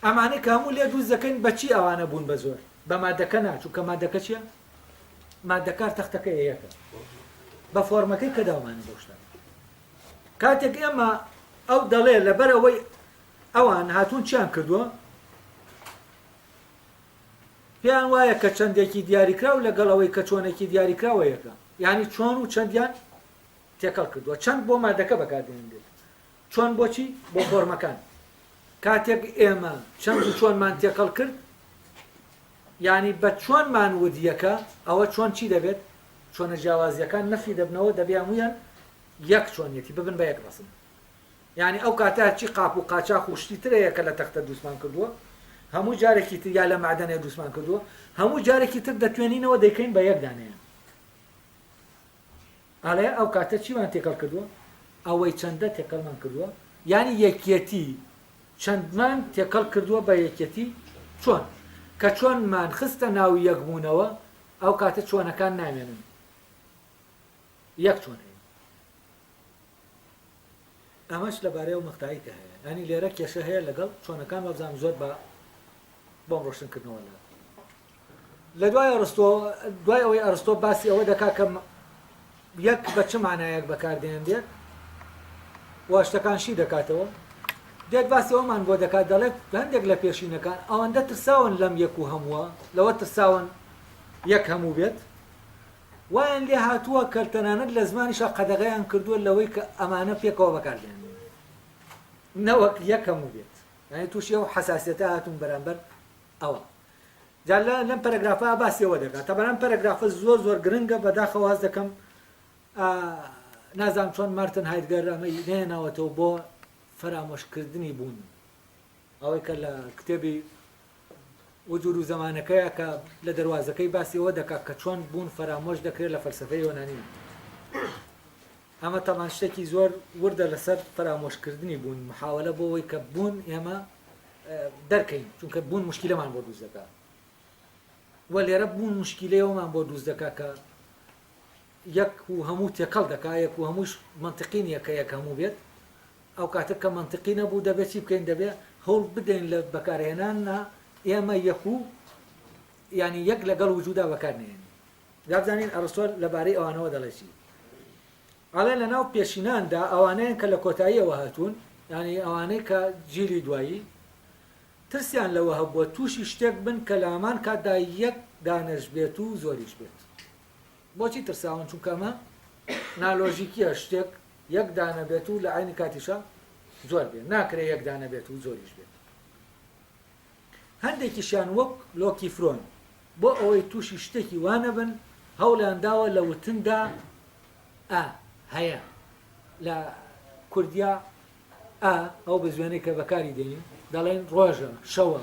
ئەمانەی کە هەموو لێ دروست دەکەین بەچی ئەوانە بوون بە زۆر؟ بە ماددەکە نا، چونکە ماددەکە چییە؟ مادە کار تەختەکە یەکە بە فۆرمەکەی کە داومانە بۆ شتان کاتێک ئێمە ئەو دەڵێ لەبەر ئەوەی ئەوان هاتوون چیان کردووە پێیان وایە کە چەندێکی دیاریکراو لەگەڵ ئەوەی کە چۆنێکی دیاریکراوە یەکە یعنی چۆن و چەندیان تێکەڵ کردووە چەند بۆ مادەکە بەکاردێنێت چۆن بۆچی بۆ فۆرمەکان کاتێک ئێمە چەند و چۆنمان تێکەڵ کرد یانی بە چۆن مان وت یەکە ئەوە چۆن چی دەبێت چۆنە جیاوازیەکان نەفی دەبنەوە دەبیان ویان یەک چۆنیەتی ببن بە یەک بەسن یانی ئەو کاتە هەرچی قاپ و قاچاخ و شتی ترەیە کە لە تەختە دروستمان کردووە هەموو جارێکی تر یا لە مەعدەنێ دروستمان کردووە هەموو جارێکی تر دەتوێنینەوە دەیکەین بە یەک دانەیان ئەڵێ ئەو کاتە چیمان تێکەڵ کردووە؟ ئەوەی چەندە تێکەڵمان کردووە؟ یانی یەکیەتی چەندمان تێکەڵ کردووە بە یەکیەتی چۆن؟ کە چۆنمان خستە ناو یەکبوونەوە، ئەو کاتە چۆنەکان نامێنن، یەک چۆن ئەیەن. ئەمەش لەبارەی ئەو مەقتەعەی کە هەیە یانی لێرە کێشە هەیە لەگەڵ چۆنەکان وابزانم زۆر بە بۆم ڕۆشن کردنەوە لە لە دوای ئەرستۆ دوای ئەوەی ئەرستۆ باسی ئەوە دەکا کە یەک بە چ مانایەک بەکاردێنرێت واشتەکانشی دەکاتەوە دێت باسی ئەومان بۆ دەکات دەڵێت هەندێک لە پێشینەکان ئەوەندە ترساون لەم یەک و هەمووە لەوە ترساون یەک هەموو بێت وایان لێ هاتووە کە تەنانەت لە زمانیشا قەدەغەیان کردووە لەوەی کە ئەمانە پێکەوە بەکار بهێنرێن نەوەک یەک هەموو بێت یانی تووشی ئەو حەساسیەتە هاتوون بەرامبەر ئەوە جا لە لەم پەرەگرافە باسی ئەوە دەکات تا بەرام پەرەگرافە زۆر زۆر گرنگە بەداخەوە هەست دەکەم نازام چۆن مارتن هایدگەر ئەمەی نێناوەتەوە بۆ فەرامۆشکردنی بوون ئەوەی کە لە کتێبی وجود و زەمانەکەیە کە لە دەروازەکەی باسی ئەوە دەکات کە چۆن بوون فەرامۆش دەکرێت لە فەلسەفەی یۆنانیدا. ئەمە تەبان شتێکی زۆر وردە لەسەر فەرامۆشکردنی بوون، محاوەلە بۆ ئەوەی کە بوون ئێمە دەرکەین، چونکە بوون مشکیلەمان بۆ دروست دەکات. وە لێرە بوون مشکیلەیەوەمان بۆ دروست دەکات کە یەک و هەموو تێکەڵ دەکا یەک و هەمووش مەنتقی نیە کە یەک هەموو بێت ئەوکاتە کە مەنتقی نەبوو دەبێت چی بکەین دەبێت هەوڵ بدەین لە بەکارهێناننا ئێمە یەک و یانی یەک لەگەڵ وجودا بەکار نەهێنین جا بزانین ئەڕستۆ لەبارەی ئەوانەوە دەڵێ چی ئەڵێ لەناو پێشیناندا ئەوانەیان کە لە کۆتاییەوە هاتوون یانی ئەوانەی کە جیلی دوایی ترسیان لەوە هەبووە تووشی شتێک بن کە لەهەمان کاتدا یەک دانەش بێت و زۆریش بێت بۆچی ترساون چونکە ئەمە نالۆژیکیە شتێک یەک دانە بێت و لە عەینی کاتیشا زۆر بێت ناکرێت یەک دانە بێت و زۆریش بێت هەندێکیشیان وەک لۆکی فرۆن بۆ ئەوەی تووشی شتێکی وانەبن هەوڵیان داوە لە وتندا ئە هەیە لە کوردیا ئا ئەو بە زوێنەی کە بەکاری دێنین دەڵێن ڕۆژە شەوە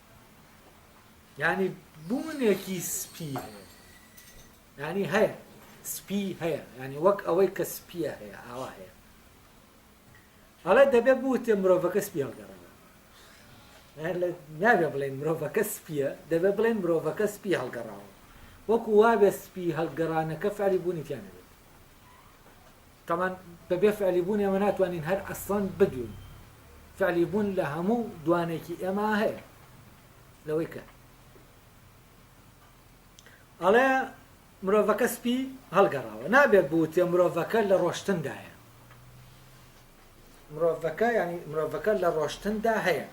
یعنی بوونێکی سپی هەیە یعنی هەیە سپی هەیە ینی وەک ئەوەی کە سپیە هەیە ئاوا هەیە ئەڵێ دەبێ بوتێ مرۆڤەکە سپی هەڵگەڕەوە نابێ بڵێن مرۆڤەکە سپیە دەبێ بڵێن مرۆڤەکە سپی هەڵگەڕاوە وەکو وابێ سپی هەڵگەڕانەکە فعلی بوونی تیانەبێت تەمان بەبێ فعلی بوون ئێمە ناتوانین هەر ئەسڵەن بدوین فعلی بوون لە هەموو دوانێکی ئێمە هەیە لەوەی کە ئەڵێ مرۆڤەکە سپی هەڵگەڕاوە نابێت بوتێ مرۆڤەکە لە ڕۆشتندایە مرۆڤەکە ینی مرۆڤەکە لە ڕۆشتندا هەیە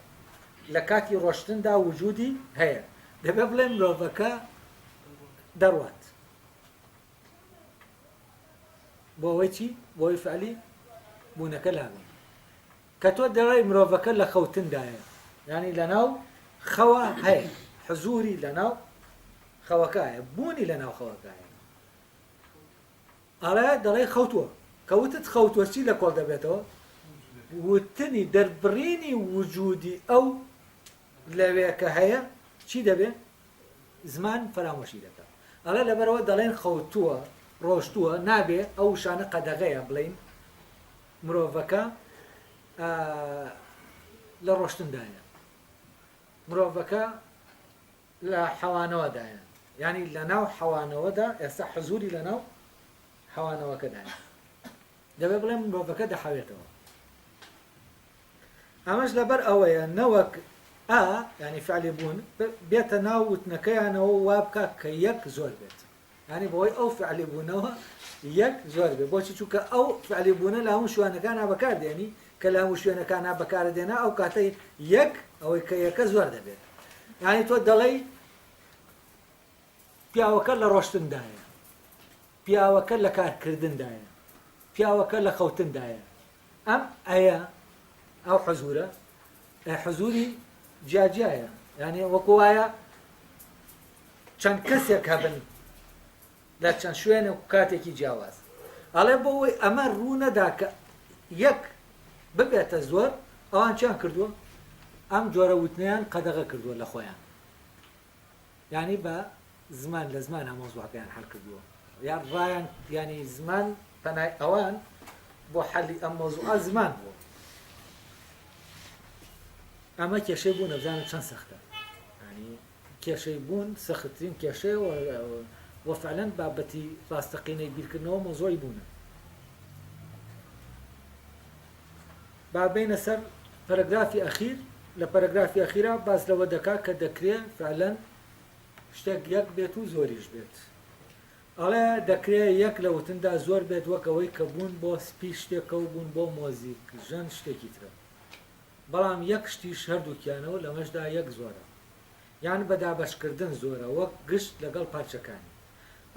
لە کاتی ڕۆشتندا وجودی هەیە دەبێ بڵێ مرۆڤەکە دەڕوات بۆ ئەوەی چی؟ بۆ ئەوەی فعلی بوونەکە لابێت کە تۆ دەڵێ مرۆڤەکە لە خەوتندایە ینی لەناو خەوە هەیە حزوری لەناو خەوەکایە بوونی لەناو خەوەکایە ئەڵێ دەڵێ خەوتووە کەوتت خەوتوە چی لە کۆڵ دەبێتەوە وتنی دەربڕینی وجودی ئەو لەوێ کە هەیە چی دەبێ؟ زمان فەرامۆشی دەکا. ئەڵێ لەبەرئەوە دەڵێن خەوتووە، ڕۆشتووە، نابێ ئەو وشانە قەدەغەیە بڵێین مرۆڤەکە لە ڕۆشتندایە، مرۆڤەکە لە حەوانەوەدایە، یانی لەناو حەوانەوەدا ئێستا حزوری لەناو حەوانەوەکەدایە. دەبێت بڵێم مرۆڤەکە دەحەوێتەوە. ئەمەش لەبەر ئەوەیە نەوەک ئا ینی فعلی بوون بێتە ناو وتنەکەیانەوە وا بکە کە یەک زۆر بێت ینی بەوەی ئەو فعلی بوونەوە یەک زۆر بێت بۆچی چووکە ئەو فعلی بوونە لە هەموو شوانەکانە بەکاردێنی کە لە هەموو شوێنەکانە بەکارە دێنا ئەو کاتەی یەک ئەوەی کە یەکە زۆر دەبێت ینی تۆ دەڵێی پیاوەکە لە ڕۆشتندایە پیاوەکە لە کارکردندایە، پیاوەکە لە خەوتندایە. ئەم ئەیە، ئەو حزورە، ئە حزوری جیاجیایە. یانێ وەکو وایە چەند کەسێک هەبن لە چەند شوێن و کاتێکی جیاواز. ئەڵێ بۆ ئەوەی ئەمە ڕوو نەدا کە یەک ببێتە زۆر ئەوان چیان کردووە؟ ئەم جۆرە وتنیان قەدەغە کردووە لە خۆیان. یانی بە زمان لە زمان هەموو زوابیان حەل کردووە یا ڕایان یانی زمان پەنای ئەوان بۆ حەلی ئەم مۆزوعە زمان بووە ئەمە کێشەی بوو نەبزانم چەند سەختە ینی کێشەی بوون سەختترین کێشەی وە فعلەن بابەتی ڕاستەقینەی بیرکردنەوە مۆزۆی بوونە با بێینە سەر پەرەگرافی ئەخیر، لە پەرەگرافی ئەخیرا باس لەوە دەکا کە دەکرێ فعلەن شتێک یەک بێت و زۆریش بێت. ئەڵێ دەکرێ یەک لە وتندا زۆر بێت وەک ئەوەی کە بوون بۆ سپی شتێکە و بوون بۆ مۆزیک ژەن شتێکی ترە. بەڵام یەک شتیش هەردووکیانە و لەمەشدا یەک زۆرە. یان بە دابەشکردن زۆرە وەک گشت لەگەڵ پارچەکانی.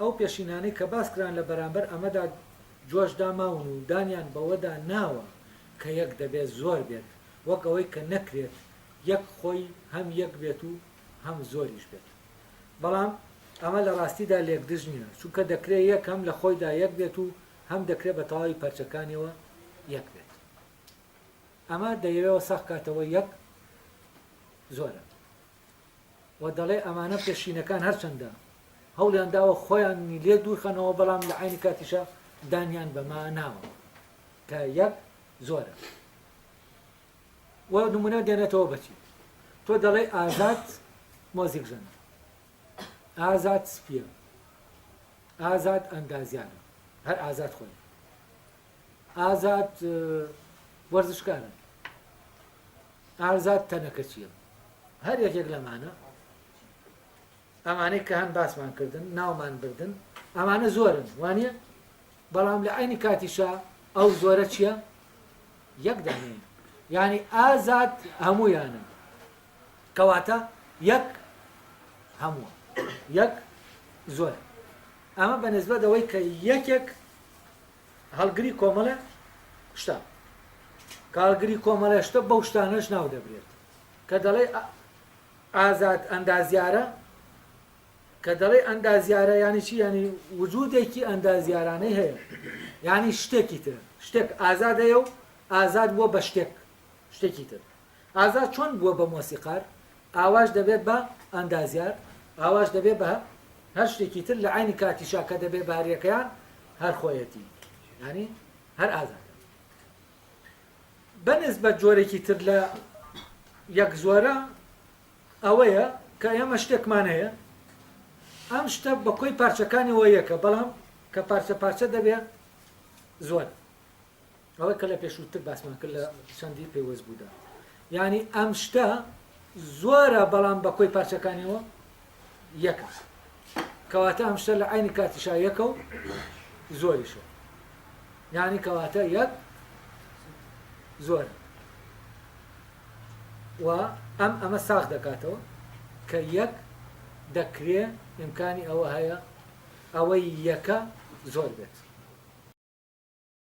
ئەو پێشینانەی کە باس کران لە بەرامبەر ئەمەدا جۆشدا ماون و دانیان بەوەدا ناوە کە یەک دەبێت زۆر بێت، وەک ئەوەی کە نەکرێت یەک خۆی هەم یەک بێت و هەم زۆریش بێت. بەڵام ئەمە لە ڕاستیدا لێکدژ نییە، چونکە دەکرێت یەک هەم لە خۆیدا یەک بێت و هەم دەکرێت بە تەواوی پارچەکانیەوە یەک بێت. ئەمە دەیەوێ ساغ کاتەوە یەک زۆرە و دەڵێ ئەمانە پێشینەکان هەرچەندە هەوڵیان داوە خۆیانی لێ دوورخەنەوە بەڵام لە عینی کاتیشە دانیان بەما ناوە کە یەک زۆرە و نمونە دێنێتەوە بەچی تۆ دەڵێ ئازاد مۆزیک ژەنە ئازاد سپیە ئازاد ئەندازیانە هەر ئازاد خۆی ئازاد وەرزشکارم ئازاد تەنەکەچیم هەر یەکێک لەمانە ئەمانەی کە هەن باسمان کردن ناومان بردن ئەمانە زۆرن وانە بەڵام لە ئەینی کاتیشە ئەو زۆرە چییە یەک دانێ ینی ئازاد هەمویانن کەواتە یەک هەمووە یەک زۆر ئەمە بە نسبەت ئەوەی کە یەکێک هەڵگری کۆمەڵە شتە کاڵگری کۆمەڵە شتە بەو شتانەش ناو دەبرێت کە دەڵێ ئازاد ئەندازیارە کە دەڵێ ئەندازیارە ینی چی ینی وجودێکی ئەندازیارانەی هەیە ینی شتێکی تر شتێک ئازادەیە و ئازاد بووە بە شتێک شتێکی تر ئازا چۆن بووە بە مۆسیقار؟ ئاواش دەبێت بە ئەندازیار؟ ئاواش دەبێت بە هەر شتێکی تر لە عەینی کاتیشا کە دەبێت بە هەریەکەیان هەر خۆیەتی یانی هەر ئازا بەنز بە جۆرێکی تر لە یەک زۆرە ئەوەیە کە ئێمە شتێکمان هەیە ئەم شتە بە کۆی پارچەکانی وە یەکە بەڵام کە پارچە پارچە دەبێت زۆر ئەوەی کە لە پێشووتر باسمان کرد لە چەندی پێوەست بوودا یعنی ئەم شتە زۆرە بەڵام بە کۆی پارچەکانیەوە یەکە کەواتە ئەم شتە لە عینی کاتیشا یەکە و زۆریشە یعنی کەواتە یەک زۆر و ئەم ئەمە ساخ دەکاتەوە کە یەک دەکرێ ئیمکانی ئەوە هەیە ئەوەی یەکە زۆر بێت